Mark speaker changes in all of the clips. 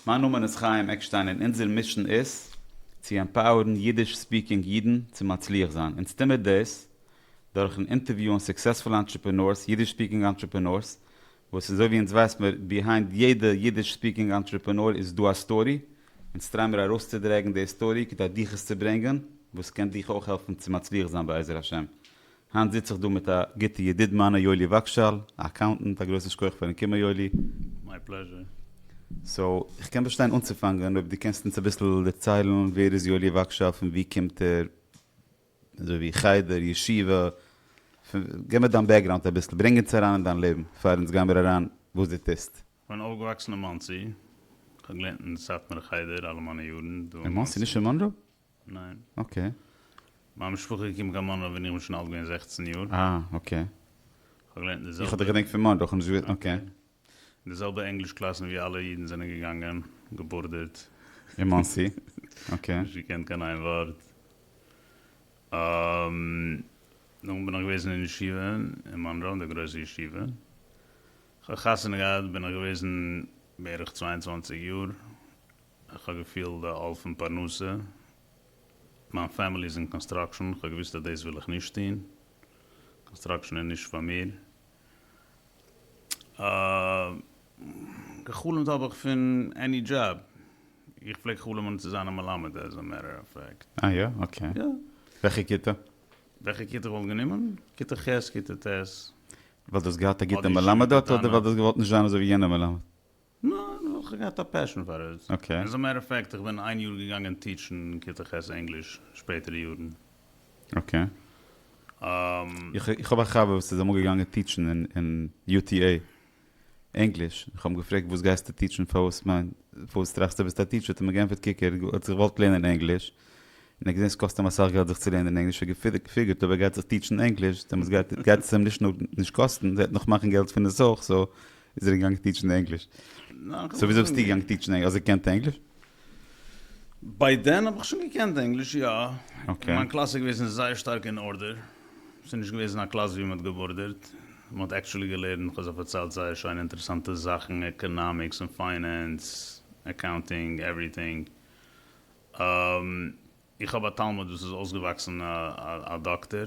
Speaker 1: מיין נאמען איז חיים עקשטיין און אונזער מישען איז צו עמפאוערן אידיש ספיקינג אידן צו מצליח זיין. אונז טומער דאס דורכן אינטערוויוען סוקסעספולע אנטרעפענארס, אידיש ספיקינג אנטרעפענארס, וואס אזוי ווי אונז ווייסט מיר, ביהיינד יעדע אידיש ספיקינג אנטרעפענאר איז דא א סטארי, אונז טריי מיר ארויסצודרעגן די סטארי כדי דיך עס צו ברענגען, וואס קען דיך אויך העלפן צו מצליח זיין בעזר השם. היינט זיץ איך דא מיט א גוטע ידיד מיינע יואלי וואגשאל א אקאונטענט, א גרויסן שכח פארן קומען יואלי. מיי פלעזשער.
Speaker 2: סאו
Speaker 1: איך קען באשטיין אנצופאנגען אויב דו קענסט אונז אביסל דערציילן ווער איז יואלי וואגשאל פון ווי קומט ער אזוי ווי חדר ישיבה פון גיב מיר דיין בעקגראונד אביסל ברענג אונז אריין אין דיין לעבן פאר אונז גיימיר אריין וואס דו טוסט. כ'בין אויפגעוואקסן אין
Speaker 2: מאנסי, כ'האב געלערנט אין סאטמארע חדר אלע מיינע יארן דא אין מאנסי. אין מאנסי? נישט אין מאנרא?
Speaker 1: ניין. אקעי. מיין משפחה
Speaker 2: איז געקומען קיין מאנרא ווען איך בין שוין אלט געווען זעכצן יאר. אה, אקעי.
Speaker 1: איך האב געלערנט
Speaker 2: אין די זעלבע. איך האב דיך געדענקט פון מאנרא, איך
Speaker 1: האב נישט געוואוסט, אקעי. אקעי. אין די זעלבע
Speaker 2: ענגליש קלאסן ווי אלע אידן זענען געגאנגען, געבורדערט. אין מאנסי?
Speaker 1: אקעי. נישט געקענט קיין איין
Speaker 2: ווארט. נאכדעם בין איך געוועזן אין ישיבה אין מאנרא, די גרויסע ישיבה. איך האב חתונה געהאט בין איך געוועזן בערך צוויי און צוואַנציק יאר. איך האב געפיל די עול פון פרנסה, מיין פעמילי איז אין קאנסטראקשען, איך האב געוויסט אז דאס וויל איך נישט טון, קאנסטראקשען איז נישט פאר מיר. געחלומט האב איך פון עני דזשאב, איך פלעג חלומ'ן צו זיין א מלמד עז א מעטער אוו פעקט. אה יא? אקעי. יא.
Speaker 1: וועלכע
Speaker 2: כיתה?
Speaker 1: וועלכע כיתה
Speaker 2: כ'וואלט גענומען? כיתה ח' כיתה ט'. ווייל דו האסט געהאט
Speaker 1: א גוטע מלמד דארט אדער ווייל
Speaker 2: דו האסט
Speaker 1: געוואלט נישט זיין אזוי
Speaker 2: ווי
Speaker 1: יענער מלמד?
Speaker 2: ניין, איך האב זיך געהאט א פעשען פאר עס. אקעי. עז א מעטער אוו פעקט, איך בין
Speaker 1: איין יאר געגאנגען טיטשן כיתה ח' ענגליש, שפעטערע יארן. אקעי. און. איך האב א חבר וואס איז אמאל געגאנגען טיטשן אין יו טי עי ענגליש, איך האב אים געפרעגט וואס גייסטו טיטשן, פארוואס מיין, פארוואס טראכסטו וועסט א טיטשער, האט ער מיר גענפערט קוק ער האט זיך געוואלט לערנען ענגליש, און ער האט געזען ס'קאסט אים אסאך געלט זיך צו לערנען ענגליש, ער האט געפיגערט אויב ער גייט זיך טיטשן ענגליש דעמאלטס גייט עס אים נישט נאר נישט קאסטן, ער וועט נאך מאכן געלט פון עס אויך, סאו איז ער געגאנגען טיטשן ענגליש? סאו ווי זאגסטו געגאנגען טיטשן ענגליש? האסט געקענט ענגליש?
Speaker 2: ביי דען האב איך שוין געקענט ענגליש, יא. און מיין קלאס איז
Speaker 1: געוועזן זייער
Speaker 2: שטארק אין ארדער. ס'איז נישט געוועזן א קלאס ווי מ'האט געבארדערט. מ'האט עקטשולי געלערנט, כ'האב זיך פארציילט זייער שיינע אינטערעסאנטע זאכן, עקאנאמיקס און פיינענס, אקאונטינג, עווריטינג. איך האב א תלמיד וואס איז אויסגעוואקסן א דאקטער.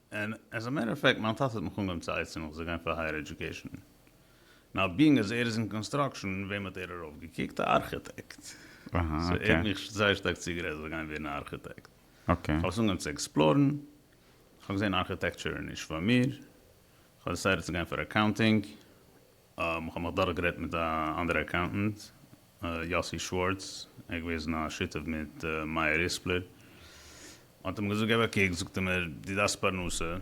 Speaker 2: און עז א מעטער אוו פעקט מיין טאטע האט מיך אנגעהויבן צו עצה'ן איך זאל גיין פאר הייער עדיוקעישן, נאו בינג אז ער איז אין קאנסטראקשן, וועם האט ער ארויף געקוקט? א ארכיטעקט! סאו ער האט
Speaker 1: מיך זייער
Speaker 2: שטארק
Speaker 1: צוגערעדט
Speaker 2: איך זאל גיין ווערן א ארכיטעקט, איך האב עס אנגעהויבן
Speaker 1: צו עקספלארן,
Speaker 2: איך האב געזעהן ארכיטעקטשור איז נישט פאר מיר, איך האב דעסיידעט צו גיין פאר אקאונטינג, איך האב מיך דורך גערעדט מיט א אנדערע אקאונטענט יאסי שווארץ ער איז געוועזן א שותף מיט מאיר ריספלער האט אים געזאגט געב א קוק זאגט ער מיר דו דארפסט פרנסה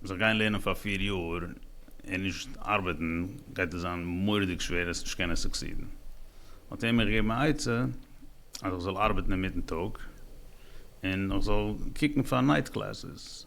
Speaker 2: זיך גיין לערנען פאר פֿיר יאר און נישט ארבעטן גייט דיר זיין מוראדיג שווער עס נישט קענען סוקסידן האט ער מיר געגעבן א עצה אז איך זאל ארבעטן אינמיטן טאג און איך זאל קוקן פאר נייט קלעסעס.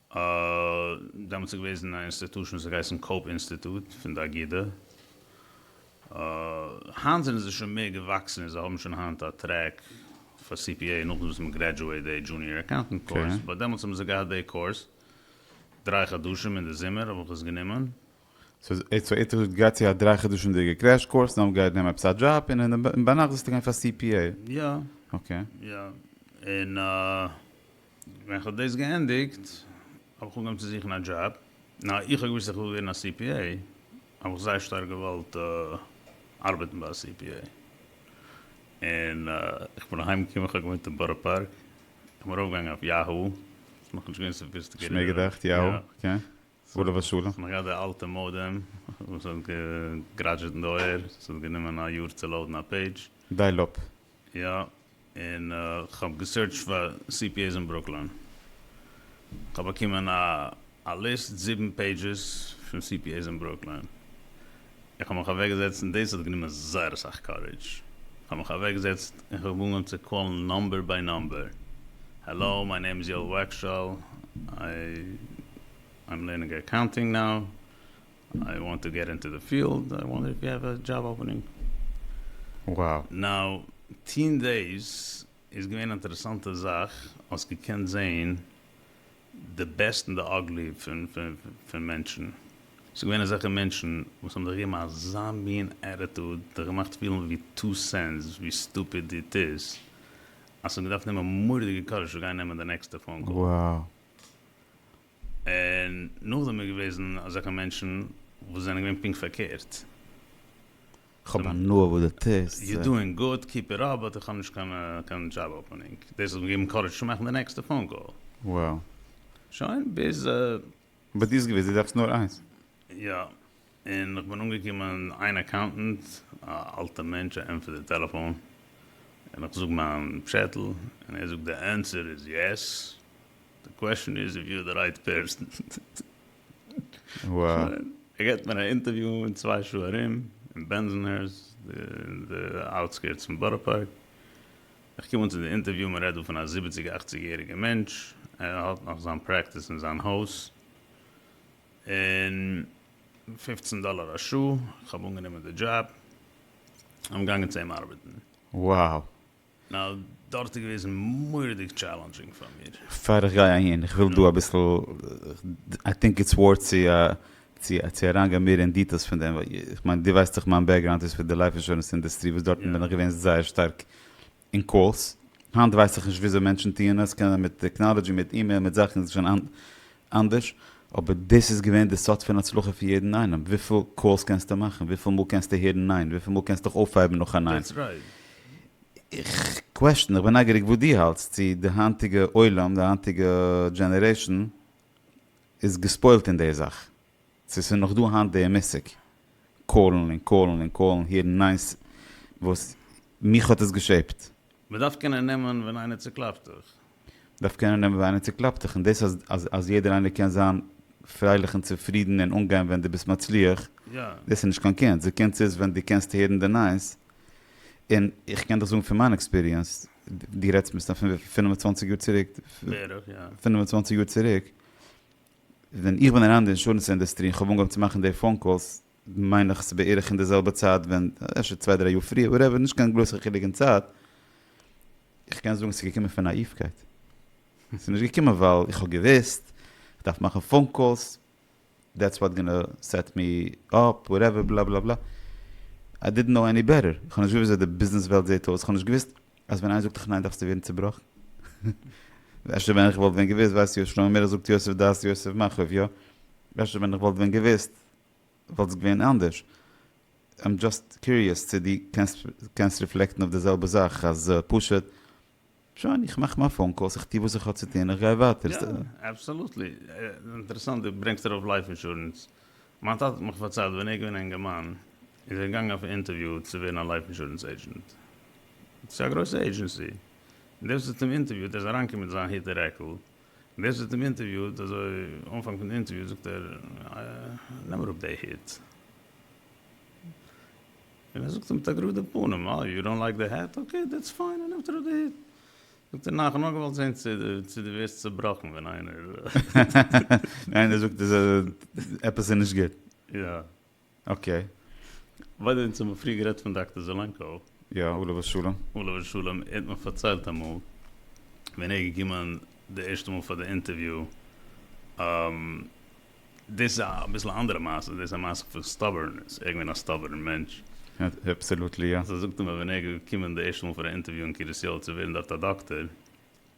Speaker 2: אה, דעמאלטס איז געוועזן א אינסטיטושן וואס האט געהייסן קאופ אינסטיטוט פון די אגידה. אה, היינט זענען זיי שוין מער געוואקסן און זיי האבן שוין היינט א טרעק פאר CPA נאכדעם וואס מען גרעדזשועט די דזשוניער אקאונטענט קורס, באט דעמאלטס האבן זיי געהאט
Speaker 1: די
Speaker 2: קורס דריי חדשים אין די זומער האב איך עס גענומען. סאו
Speaker 1: איצטער האט געהאט צו א דריי חדשים'דיגע קרעש קורס נאכדעם גייט נעמען עפעס א דזשאב און אין ביינאכט זאלסטו גיין פאר CPA. יא. אקעי.
Speaker 2: יא. און אה. ווען איך האב דאס געענדיגט האב איך אנגעהויבן צו זוכן א דזשאב, נאר איך האב געוואוסט אז איך וויל ווערן א cpa, האב איך זייער שטארק געוואלט ארבעטן ביי א cpa, און איך בין אהיים געקומען, איך האב געוואוינט אין בארא פארק, איך בין
Speaker 1: ארויפגעגאנגען
Speaker 2: אויף יאהו, ס'איז נאכנישט
Speaker 1: געווען
Speaker 2: סאפיסטיקירט, שמעקט
Speaker 1: עכט
Speaker 2: יאהו, אקעי. סגולה
Speaker 1: ושלום. כ'האב נאך געהאט די אלטע מאדעם
Speaker 2: וואס האט געגראדזשעט אין די אויער, ס'האט גענומען א יאר צו לאודן א פעידזש. דייל אפ.
Speaker 1: יא,
Speaker 2: און כ'האב געסירטשט פאר cpas אין ברוקלין, כ'האב באקומען א ליסט זיבן פעידזשעס פון cpas אין ברוקלין. איך האב מיך אוועקגעזעצט און דאס האט גענומען זייער אסאך קארידזש, איך האב מיך אוועקגעזעצט און כ'האב אנגעהויבן צו קאלן נאמבער ביי נאמבער, העלא מיי נעים איז יואל וואגשאל, איי עם לערנינג אקאונטינג נאו, איי וואנט טו געט אינטו די פיעלד, איי וואנדער איף יו העוו א דזשאב אפענינג
Speaker 1: נאו.
Speaker 2: טוהן דאס איז געווען אינטערעסאנטע זאך, האסט געקענט זעהן די בעסט און די אגלי פון מענטשן, ס'איז געווען אזעלכע מענטשן וואס האבן זיך געגעבן אזא מין עטיטוד, זיך געמאכט פילן ווי טו סענס ווי סטופיד איט איז, אז ס'האט געדארפט נעמען מורא'דיגע קארעזש צו גיין נעמען די נעקסטע פאון קאל.
Speaker 1: און
Speaker 2: נאכדעם איז געוועזן אזעלכע מענטשן וואס זענען געווען פונקט פארקערט.
Speaker 1: כ'האב הנאה וואס דו טוסט. יו דואינג גוד, קיפ
Speaker 2: איט אפ, באט איך האב נישט קיין דזשאב אפענינג, דאס האט מיר געגעבן קארעדזש צו מאכן די נעקסטע פאון קאל. וואו.
Speaker 1: שוין
Speaker 2: ביז. ביי דיר איז
Speaker 1: געוויס, דו דארפסט נאר איינס. יא,
Speaker 2: און כ'בין אנגעקומען, איין אקאונטענט, א אלטע מענטש, א ענטפערט די טעלעפאון, און כ'זאג מיין פשעטל, און ער זאגט די ענסער איז יעס, די קוועשאן איז איף יו אר די רייט פערסאן. וואו?
Speaker 1: געט מיר א אינטערוויו
Speaker 2: אין צוויי שעה ארום אין בענזשענהערס אין די אוטסקירטס פון בארא פארק, איך קום אן צו די אינטערוויו מען רעדט דא פון א זיבעציג אכציג יעריגע מענטש ער האט נאך זיין פרעקטיס אין זיין הויז און פֿופֿצן דאלער א שעה, איך האב אנגענומען די דזשאב, און געגאנגען צו אים ארבעטן. וואו?
Speaker 1: נא
Speaker 2: דארט איז געוועזן מוראדיג טשעלענדזשינג פאר מיר. פאר איך גיי אהין,
Speaker 1: איך וויל דא אביסל, איי טינק איטס ווארט צו אריינגיין מער אין דיטעלס פון דעם, איך מיין דו ווייסט דאך מיין בעקגראונד איז פון די לייף אינשורענס אינדוסטרי וואס דארטן בין איך געווען זייער שטארק אין קאלס, היינט ווייס איך נישט וויאזוי מענטשן טוען עס, קענען מיט טעקנאלעדזשי, מיט אימעיל, מיט זאכן, ס'איז שוין אנדערש, אבער דאס איז געווען די סוד פון הצלחה פון יעדן איינעם, וויפיל קאלס קענסטו מאכן, וויפיל מאל קענסטו הערן ניין, וויפיל מאל קענסטו דיך אויפהייבן נאך א ניין.
Speaker 2: איך
Speaker 1: קוועשטן, איך בין נייגעריג וואס דו האלטסט, צו די היינטיגע עולם, די היינטיגע דזשענערעישן איז געספוילט אין די זאך, צו ס'איז נאך דא היינט די מושג קאלן און קאלן און קאלן, הערן ניין'ס, וואס מיך האט עס געשעפט. מ'דארף קענען
Speaker 2: נעמען ווען איינער צוקלאפט דיך. דארף קענען נעמען ווען איינער צוקלאפט זיך,
Speaker 1: און דאס אז אז אז יעדער איינער קען זיין פרייליך און צופרידן און אנגיין ווען דו ביסט מצליח, דאס איז נישט קיין
Speaker 2: קונץ, די
Speaker 1: קונץ איז ווען דו קענסט הערן די נייעס, און איך קען דיך זאגן פון מיין עקספיריענס, דו רעדסט מסתם פון וויפיל פֿינף און צוואַנציק
Speaker 2: יאר
Speaker 1: צוריק, בערך יא. פֿינף און צוואַנציק יאר צוריק, ווען איך בין אריין אין די אינשורענס אינדוסטרי און כ'האב אנגעהויבן צו מאכן די פאון קאלס, מיין איך ס'בערך אין די זעלבע צייט ווען, אפשר צוויי דריי יאר פריער, וואטעווער, נישט קיין גרויסע חילוק אין צייט, איך קען זאגן ס'איז געקומען פון נאאיווקייט, ס'איז נישט געקומען ווייל איך האב געוואוסט איך דארף מאכן פאון קאלס, דעטס וואט גאנא סעט מי אפ, וואטעווער, בלא בלא בלא, איי דידנט קנאו עני בעטער, איך האב נישט געוואוסט וויאזוי די ביזנעס וועלט זעט אויס, איך האב נישט געוואוסט אז ווען איינער זאגט דיך ניין דארפסטו ווערן צובראכן, אפשר ווען איך וואלט ווען געוואוסט, ווייסט יאיר שלמה מאירער זאגט יוסף דעת יוסף מאחוריו, אפשר ווען איך וואלט ווען געוואוסט וואלט עס געווען אנדערש? איים דזשאסט קיוריעס צו דו קענסט ריפלעקטן אויף די זעלבע זאך אז פשוט שוין איך מאך מיין פאון קאלס איך טו וואס איך האב צו טון איך גיי ווייטער. יא אבסאלוטלי.
Speaker 2: אינטערעסאנט דו ברענגסט ארויף לייף אינשורענס. מיין טאטע האט מיך פארציילט ווען ער איז געווען א אינגערמאן איז ער געגאנגען אויף א אינטערוויו צו ווערן א לייף אינשורענס עידזשענט צו א גרויסע עידזשענסי און דער וואס האט אים אינטערוויוט ער איז אריינגעקומען מיט זיין הוט און רעקל ווער ס'האט אים אינטערוויוט אזוי אנפאנג פון די אינטערוויו זאגט ער נעם אראפ די היט און ער זאגט אים מיט א גראדע פנים אה יו דאנט לייק די העט אקעי דעטס פיין ער נעמט אראפ די היט זאגט ער נאך כ'האב נאר געוואלט זעהן צו צו דו ווערסט צובראכן ווען איינער ווען
Speaker 1: איינער זאגט עפעס איז נישט גוט.
Speaker 2: אקעי.
Speaker 1: ביי
Speaker 2: די ווענט האט מען פריער גערעדט פון דאקטער זעלענקאו. יא, עליו השלום.
Speaker 1: עליו השלום, ער האט
Speaker 2: מיך פארציילט אמאל ווען ער איז געקומען די ערשטע מאל פאר די אינטערוויו, דאס איז אביסל א אנדערע מעשה, דאס איז א מעשה פון סטאבערנעס, ער איז געווען א סטאבערן מענטש. אבסעלוטלי
Speaker 1: יא. זאגט ער מיר ווען ער איז
Speaker 2: געקומען די ערשטע מאל פאר א אינטערוויו אין קרית יואל צו ווערן דארט א דאקטער,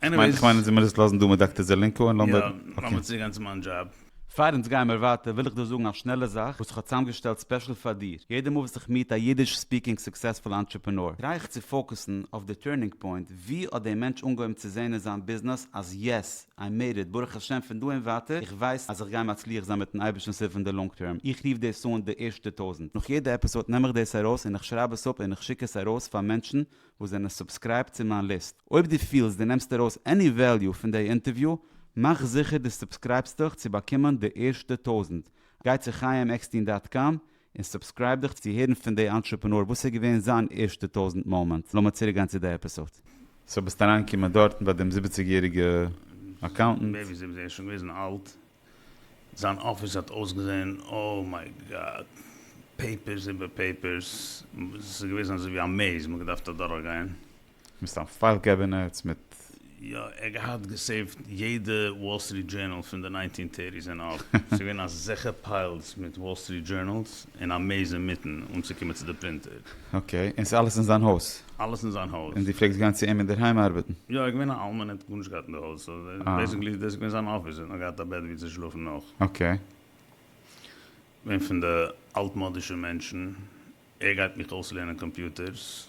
Speaker 1: כ'מיין
Speaker 2: כ'מיין זי מוז עס לאזן דא
Speaker 1: מיט דאקטער זעלענקא און לאמיר יא לאמיר צוריק גיין
Speaker 2: צו מיין דזשאב. פאר אונז גיימער
Speaker 1: ווייטער וויל איך דא זאגן א שנעלע זאך וואס איך האב צוזאמגעשטעלט ספעשל פאר דיר, יעדע מאל וואס איך מיעט א אידיש ספיקינג סוקסעספול אנטרעפענאר טריי איך צו פאוקעסן אויף די טורנינג פוינט, ווי האט דער מענטש אנגעהויבן צו זעהן אין זיין ביזנעס אז יעס, איי מעיד איט, ברוך השם פון דא און ווייטער איך ווייס אז איך גיי מצליח זיין מיטן אייבערשטנ'ס הילף אין די לאנג טערם, איך רוף דאס אן די ערשטע טויזנט, נאך יעדע עפיסאד נעם איך דאס ארויס און איך שרייב עס אפ און איך שיק עס ארויס פאר מענטשן וואס זענען סובסקרייבט צו מיין ליסט. אויב דו פילסט דו נעמסט ארויס עני וועליו פון דעי אינטערוויו, מאך זיכער דו סובסקרייבסט דיך צו באקומען די ערשטע טויזנט. גיי צו חיים עקסטין דאט קאם און סובסקרייב דיך צו הערן פון דעי אנטרעפענאר וואס איז געווען זיין ערשטע טויזנט מאמענט. לאמיר צוריק גיין צו דעי עפיסאד. סאו ביסט אריינגעקומען דארטן ביי דעם זיבעציגיעריגע אקאונטענט. בעיבי זיבן זיי איז שוין געוועזן
Speaker 2: אלט. זיין אפיס האט אויסגעזען אוי מיי גאד, פעיפערס איבער פעיפערס, עס איז געוועזן אזוי ווי א מעיז מען האט געדארפט אדורך גיין. מסתם פייל
Speaker 1: קעבינעטס מיט. יא, ער האט
Speaker 2: געהאט געסעיווט יעדע וואל סטריט דזשערנאל פון די ניינטין טערטיס ענד אויף, ס'איז געווען א זכר פיילס מיט וואל סטריט דזשערנאלס, און א מעיז אינמיטן אנצוקומען צו די פרינטער. אקעי, און ס'איז
Speaker 1: אלעס אין זיין הויז? אלעס אין זיין הויז. און
Speaker 2: דו פלעגסט גיין צו אים אינדערהיים
Speaker 1: ארבעטן? יא, ער איז געווען א אלמן ער האט
Speaker 2: גארנישט געהאט אין די הויז, סאו בעיסיקלי איז דאס געווען זיין אפיס, ער האט נאר געהאט א בעט ווי צו שלאפן נאך. אקעי.
Speaker 1: געווען
Speaker 2: פון די אלטמאדישע מענטשן, ער גייט מיך אויסלערנען קאמפיוטערס.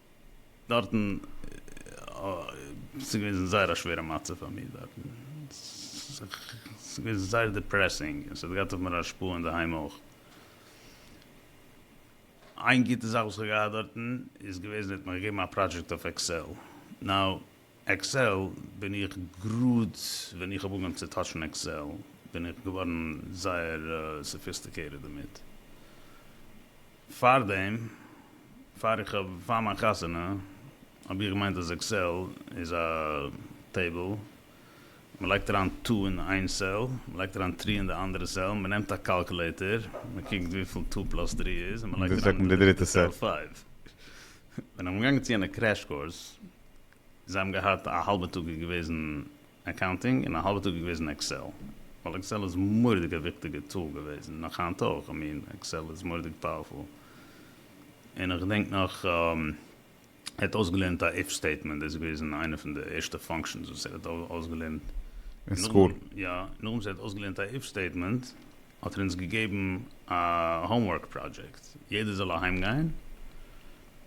Speaker 2: דארטן ס'איז געוועזן זייער א שווערע מצב פאר מיר דארטן, ס'איז געוועזן זייער דיפרעסינג און ס'האט געהאט אויף מיר א השפעה אינדערהיים אויך. איין גוטע זאך וואס כ'האב געהאט דארטן איז געוועזן מ'האט מיר געגעבן א פראדזשעקט אויף עקסעל, נאו עקסעל בין איך גראד ווען איך האב אנגעהויבן צו טאטשן עקסעל בין איך געווארן זייער סאפיסטיקעיטעד דערמיט, פארדעם פאר איך האב פאר מיין חתונה האב איך געמיינט אז עקסעל איז א טעיבל מען לייגט אריין טו אין איין סעל מען לייגט אריין טרי אין די אנדערע סעל מען נעמט א קאלקולעיטער מען קוקט וויפיל טו פלאס טרי איז און מען לייגט אריין אין די דריטע סעל פייוו ווען איך בין געגאנגען צו יענע קרעש קורס זיי האבן געהאט א האלבע טאג איז געוועזן אקאונטינג און א האלבע טאג איז געוועזן עקסעל, ווייל עקסעל איז מורא'דיג א וויכטיגע טול געוועזן, נאך היינט אויך, איך מיין עקסעל איז מורא'דיג פאוערפול, און איך געדענק נאך ער האט אויסגעלערנט א איף סטעיטמענט, דאס איז געוועזן איינע פון די ערשטע פאנקשענס וואס ער האט אויסגעלערנט, אין סקול?
Speaker 1: יא, נאכדעם וואס ער האט
Speaker 2: אויסגעלערנט א איף סטעיטמענט האט ער אונז געגעבן א האומווארק פראדזשעקט, יעדער זאל אהיימגיין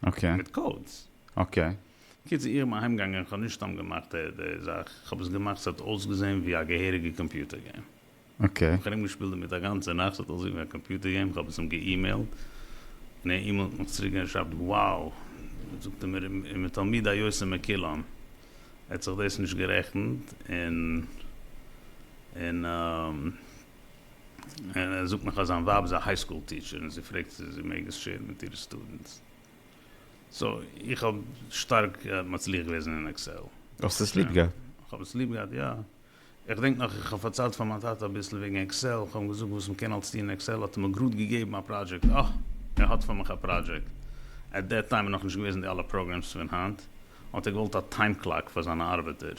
Speaker 2: אקעי. מיט קאודס. אקעי.
Speaker 1: קיצור איך בין
Speaker 2: אהיימגעגאנגען איך האב נישט סתם געמאכט די זאך איך האב עס געמאכט ס'האט אויסגעזען ווי א געהעריגע קאמפיוטער געים. אקעי. איך האב
Speaker 1: ארום געשפילט דערמיט א
Speaker 2: גאנצע נאכט ס'האט אויסגעזען ווי א קאמפיוטער געים איך האב עס אים געאימעילט און ער אימעילט מיך צוריק און ער שרייבט wow זאגט ער מיר און מתלמידי היוצא מקילם האט זיך דאס נישט גערעכנט און און. און ער זאגט נאך אז זיין ווייב איז א היי סקול טיטשער און זי פרעגט צו זי מעג עס שעירן מיט אירע סטודענטס. סאו איך האב שטארק מצליח געוועזן אין עקסעל. האסט עס ליב געהאט?
Speaker 1: כ'האב עס ליב געהאט, יא.
Speaker 2: איך דענק נאך איך האב פארציילט פאר מיין טאטע אביסל וועגן עקסעל, כ'האב אים געזאגט וואס מען קען אלס טון אין עקסעל, האט ער מיר גראד געגעבן א פראדזשעקט, אה! ער האט פאר מיך א פראדזשעקט. עט דעט טיים איז נאך נישט געוועזן די אלע פראגרעמס פון היינט. האט ער געוואלט א טיים קלאק פאר זיינע ארבעטער.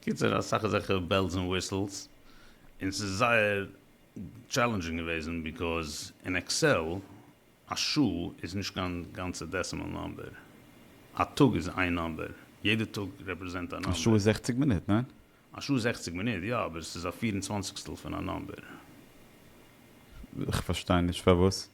Speaker 2: קיצור אסאך אזעלכע בעלס און וויסעלס, און ס'איז זייער טשעלענדזשינג געוועזן ביקאוז אין עקסעל א שעה איז נישט קיין גאנצע דעסימעל נאמבער, א טאג איז איין נאמבער, יעדע טאג רעפרעזענט א נאמבער. א שעה איז זעכציג מינוט, ניין?
Speaker 1: א שעה איז זעכציג
Speaker 2: מינוט, יא, אבער ס'איז א פיר און צוואנציגסטל פון א נאמבער. כ'פארשטיי נישט
Speaker 1: פארוואס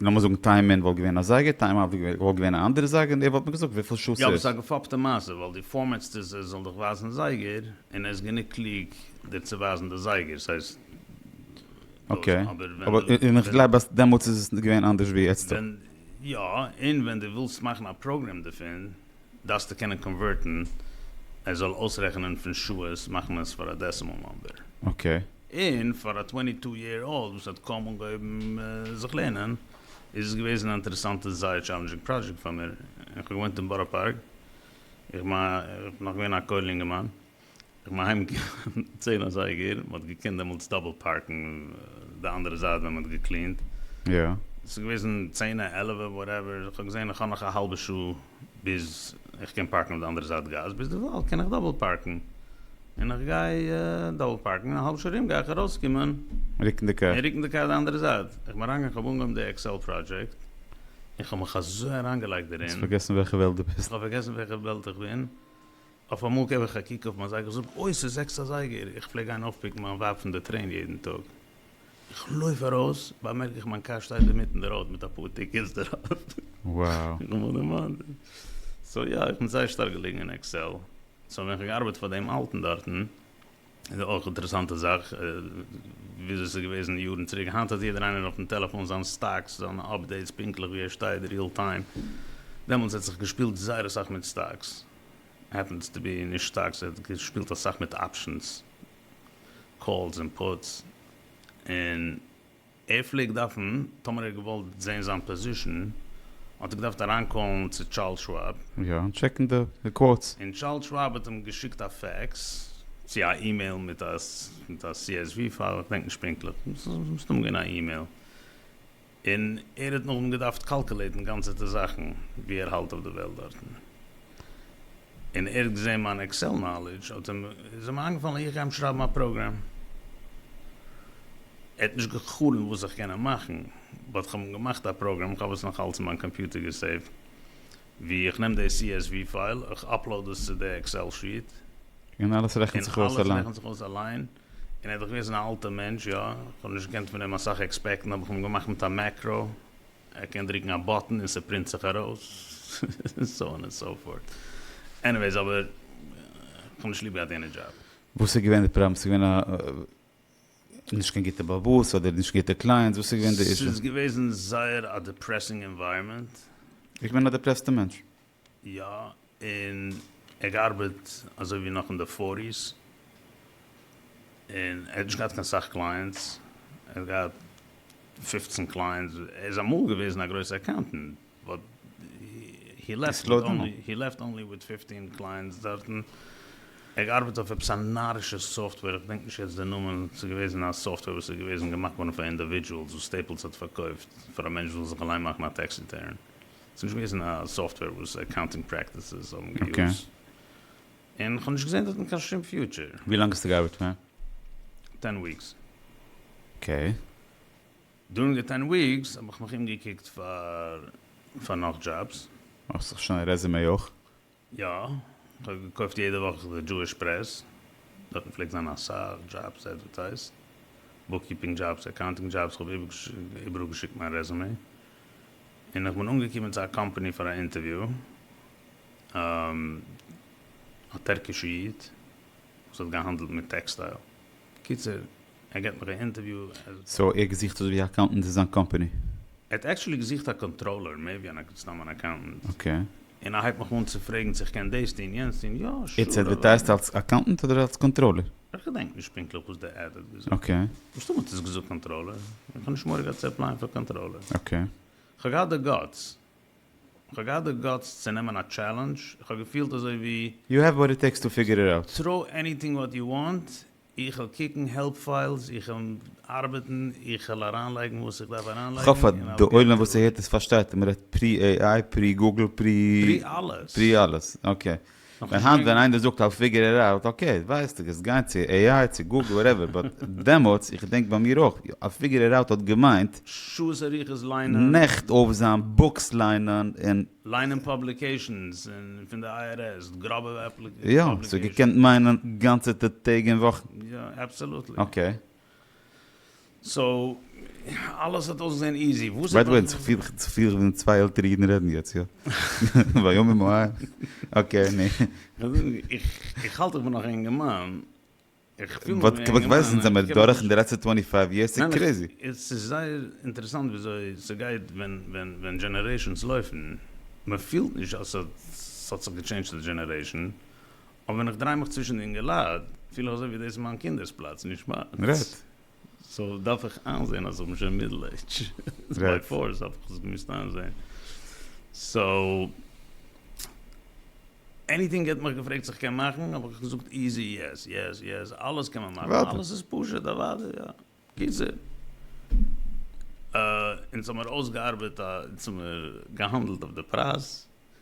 Speaker 1: לאמיר זאגן טיים אין וואלט געווען א זייגער, טיים אוט וואלט געווען א אנדערע זייגער, און ער וואלט מיר געזאגט וויפיל שעה ס'איז. יא אבער ס'איז א געפאפטע
Speaker 2: מעשה ווייל דו פארמעטסט עס ער זאל דיך ווייזן זייגער, און ער איז גענוג קלוג דיר צו ווייזן די זייגער, ס'הייסט
Speaker 1: אקעי, אבער און איך גלייב אז דעמאלטס איז עס געווען אנדערש ווי איצטער. יא, און
Speaker 2: ווען דו ווילסט מאכן א פראגרעם דערפון. דארפסטו קענען קאנווערטן ער זאל אויסרעכענען פון שעות מאכן עס פאר א דעסימאל נאמבער. אקעי.
Speaker 1: און פאר א
Speaker 2: טווענטי טו יער אולד וואס האט קוים אנגעהויבן זיך לערנען איז עס געוועזן א אינטערעסאנטע זייער טשאלענדזשינג פראדזשעקט פאר מיר, איך האב געוואוינט אין בארא פארק, איך מיין איך בין נאך געווען א קוילער אינגערמאן, איך בין אהיים געגאנגען צען אזייגער, מ'האט געקענט דעמאלטס דאבל פארקן די אנדערע זייט ווען מ'האט געקלינט. ס'איז
Speaker 1: געוועזן
Speaker 2: צענע עלעווע וואטעווער, איך האב געזען איך האב נאך א האלבע שעה ביז איך קען פארקן אויף די אנדערע זייט גאס, ביזדערווייל קען איך דאבל פארקן, און איך גיי דאבל פארקן, און א האלב שעה ארום גיי איך ארויסקומען, רוקן די קאר, און
Speaker 1: רוקן די קאר די אנדערע זייט,
Speaker 2: איך בין אריינגעגאנגען איך האב אנגעהויבן די עקסעל פראדזשעקט, און איך האב מיך אזוי אריינגעלייגט דערין, האסט פארגעסן וועלכע וועלט
Speaker 1: דו
Speaker 2: ביסט? איך
Speaker 1: האב פארגעסן וועלכע וועלט
Speaker 2: איך בין, אויף אמאל געב איך א קוק אויף מיין זייגער זאג אוי ס'איז זעקס אזייגער איך פלעג גיין אויפפיקן מיין ווייב פון די טרעין יעדן טאג איך לויף ארויס באמערק איך מיין קאר שטייט אינמיטן די ראוד מיט אפאר טיקעטס דערויף איך האב
Speaker 1: מיך
Speaker 2: דערמאנט סאו יא איך בין זייער שטארק געלעגן אין עקסעל סאו ווען איך האב געארבעט פאר דעם אלטן דארטן איז אויך אינטערעסאנטע זאך וויאזוי ס'איז געוועזן יארן צוריק היינט האט יעדער איינער אויפן טעלעפאן זיין סטאקס זיינע אפדעיטס פונקטליך ווי ער שטייט ריעל טיים דעמאלטס האט זיך געשפילט זייער אסאך מיט סטאקס. העפענס טו בי נישט שטארק סאו ער שפילט אסאך מיט אפשענס, קאלס און פוטס, און ער פלעגט דארפן טאמער ער האט געוואלט זעהן זיין פאזישן האט ער געדארפט אריינקאלן צו טשארלס שוואב, יא און טשעקן
Speaker 1: די קוואוטס. און טשארלס שוואב האט
Speaker 2: אים געשיקט א פעקס צו א אימעיל מיט א מיט א CSV פייל, איך געדענק נישט פונקטליך, מסתם געווען א אימעיל. און ער האט נאכדעם געדארפט קאלקעלעטן גאנצעטע זאכן ווי ער האלט אויף די וועלט דארטן, און ער האט געזען מיין עקסעל נאלידזש האט אים איז אים איינגעפאלן איך גיי אים שרייבן א פראגרעם, ער האט נישט גע'חלומ'ט וואס איך קען אים מאכן, באט כ'האב אים געמאכט א פראגרעם, איך האב עס נאך אלץ אין מיין קאמפיוטער געסעיווט, ווי איך נעם די csv פייל, איך אפלאוד עס צו די עקסעל שיעט. און אלעס
Speaker 1: רעכנט זיך אויס אליין.
Speaker 2: און ער איז דאך געוועזן א אלטע מענטש, יא, איך האב נישט געקענט פון אים אסאך עקספעקטן, האב איך אים געמאכט מיט א מעקרא, ער קען דריקן א באטן און ס'פרינט זיך ארויס, סאו אן ענד סאו פארט, עניוועיס, אבער איך האב נישט ליב געהאט יענע דזשאב. וואס איז געווען די פראבלעם?
Speaker 1: ס'איז געווען א נישט קיין גוטע באבוס אדער נישט גוטע קלייענטס? וואס איז געווען די אישו? ס'איז געוועזן זייער
Speaker 2: א דעפרעסינג ענווייראמענט. איך בין א
Speaker 1: דעפרעסטע מענטש. יא
Speaker 2: און ער גארבעט אזוי ווי נאך אין די פארטיס און ער האט נישט געהאט קיין סאך קלייענטס ער האט געהאט פֿופֿצן קלייענטס ער איז אמאל געוועזן א גרויסע אקאונטענט באט הי לעפט הי לעפט אנלי וויט פֿופֿטין קלייענטס דארטן ער געארבעט אויף עפעס א נארישע סאפטוועיר כ'דענק נישט יעצט די נאמען ס'איז געוועזן א סאפטוועיר וואס איז געוועזן געמאכט געווארן פאר אינדעווידזשעלס וואס סטעיפלס האט פארקויפט פאר א מענטש זאל זיך אליין מאכן א טעקס ריטערן. ס'איז נישט געוועזן א סאפטוועיר וואס אקאונטינג פרעקטיסעס האבן געיוזט, און כ'האב נישט געזען דארטן קיין שום פיוטשער. ווי לאנג האסטו געארבעט פאר?
Speaker 1: טען
Speaker 2: וויקס. אקעי. דורינג די טען וויקס האב איך מיך אומגעקוקט פאר פאר נאך דזשאבס. מאכסט זיך שוין א
Speaker 1: רעזעמעי אויך? יא,
Speaker 2: כ'האב געקויפט יעדע וואך די דזשואיש פרעס, דארטן פלעגט זיין אסאך דזשאבס עדווערטייזט, בוקקיפינג דזשאבס, אקאונטינג דזשאבס, כ'האב איבעראל געשיקט מיין רעזומעי, און איך בין אנגעקומען צו א קאמפאני פאר א אינטערוויו, א טערקישע איד וואס האט געהאנדלט מיט טעקסטייל, קיצור, ער
Speaker 1: געט מיך א
Speaker 2: אינטערוויו.
Speaker 1: סאו ער
Speaker 2: געזוכט
Speaker 1: אזויווי א
Speaker 2: אקאונטענט
Speaker 1: אין זיין קאמפעני? ער האט
Speaker 2: עקטשולי געזוכט א קאנטראלער מער ווי אן סתם אן אקאונטענט. אקעי. און
Speaker 1: ער הייבט מיך אן צו
Speaker 2: פרעגן צו איך קען דאס טון יענץ טון, יא שור. איטס עדווערטייזט אלס
Speaker 1: אקאונטענט אדער אלס קאנטראלער? איך געדענק נישט
Speaker 2: פונקטליך וואס די עד האט געזאגט. אקעי. מסתמא האט עס
Speaker 1: געזאגט
Speaker 2: קאנטראלער. איך האב נישט מורא געהאט צו עפלייען פאר קאנטראלער. אקעי.
Speaker 1: כ'האב געהאט די
Speaker 2: גאטס. כ'האב געהאט די גאטס צו נעמען א טשעלענדזש. כ'האב געפילט אזויווי. יו העוו וואט איט טעיקס טו
Speaker 1: פיגור איט אוט. טראו עניטינג וואט
Speaker 2: יו וואנט, איך וועל קוקן העלפ פיילס, איך וועל ארבעטן, איך וועל אריינלייגן וואס איך דארף אריינלייגן. כ'האף אז די עולם
Speaker 1: וואס ס'הערט עס פארשטייט אז מ'רעדט פרי AI, פרי גוגל, פרי. פרי אלעס.
Speaker 2: פרי אלעס, אקעי.
Speaker 1: ווייל היינט ווען איינער זאגט איי פיגער איט אוט, אקעי, ווייסטו, קענסט גיין צו AI, צו גוגל, וואטעווער, באט דעמאלטס, איך געדענק ביי מיר אויך, איי פיגער איט אוט האט געמיינט. שעות אריכות
Speaker 2: ליינען. נעכט אויפזיין,
Speaker 1: בוקס ליינען, און. ליינען
Speaker 2: פאבליקעישאנס פון די איי אר עס, גראבע פאבליקעישאנס. יא, ס'האט געקענט
Speaker 1: מיינען גאנצעטע טעג און וואכן. יא, אבסאלוטלי.
Speaker 2: אקעי. סאו, אלעס האט אויסגעזען איזי. וואס איז. ביי די וועי, כ'פיל
Speaker 1: ווי די צוויי עלטערע אידן רעדן יעצט, יא. ויאמר מואב. אקעי, נו. איך
Speaker 2: האלט איך בין נאך א אינגערמאן. וואט
Speaker 1: קוועסטענס זעמיר דורך אין די לעצטע טווענטי פייוו יערס? ס'איז קרעזי! עס איז זייער
Speaker 2: אינטערעסאנט וויאזוי ס'גייט ווען דזשענערעישאנס לויפן, מ'פילט נישט אז ס'האט זיך געטשעינדזשט די דזשענערעישאן, אבער ווען איך דריי מיך צווישן די אינגעלייט פיל איך אזוי ווי דאס איז מיין קינדערס פלאץ, נישט מיינס.
Speaker 1: סאו
Speaker 2: דארף איך איינזעהן אז איך בין שוין מידל עידזש, ביי פארס האב איך עס געמוזט איינזעהן, סאו עניטינג ער האט מיך געפרעגט צו איך קען מאכן האב איך געזאגט איזי יעס יעס יעס אלעס קען מען מאכן אלעס איז פשוט
Speaker 1: אוואדי
Speaker 2: יא גוט ז. אונז האמיר אויסגעארבעט א אונז האמיר געהאנדלט אויף די פרייז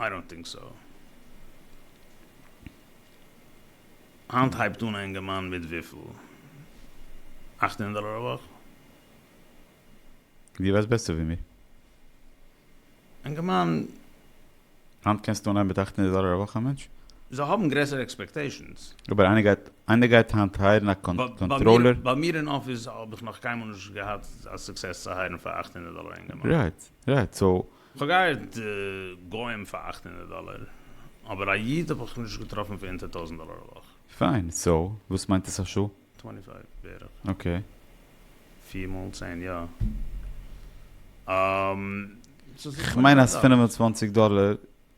Speaker 1: איי
Speaker 2: דאנט טינק סאו. היינט הייבט אן א אינגערמאן מיט וויפיל? אַכט הונדערט דאלער א וואך?
Speaker 1: דו ווייסט בעסער ווי מיר.
Speaker 2: אינגערמאן. היינט
Speaker 1: קענסטו אנהייבן מיט אַכט הונדערט דאלער א וואך א מענטש? זיי האבן גרעסערע
Speaker 2: עקספעקטעישאנס. אבער איינער גייט
Speaker 1: איינער גייט היינט הייערן א קאנטראלער? ביי מיר אין אפיס
Speaker 2: האב איך נאך קיינמאל נישט געהאט א סוקסעס צו הייערן פאר אַכט הונדערט דאלער א אינגערמאן. רייט רייט סאו.
Speaker 1: כ'האב געהייערט
Speaker 2: גוים פאר אַכט הונדערט דאלער, אבער א איד האב איך נישט געטראפן פאר אונטער טויזנט דאלער א וואך. פיין, סאו
Speaker 1: וואס מיינט עס א שעה? טווענטי פייוו בערך.
Speaker 2: אקעי.
Speaker 1: פיר
Speaker 2: מאל צען, יא. כ'מיין אז פֿינף
Speaker 1: און צוואַנציק דאלער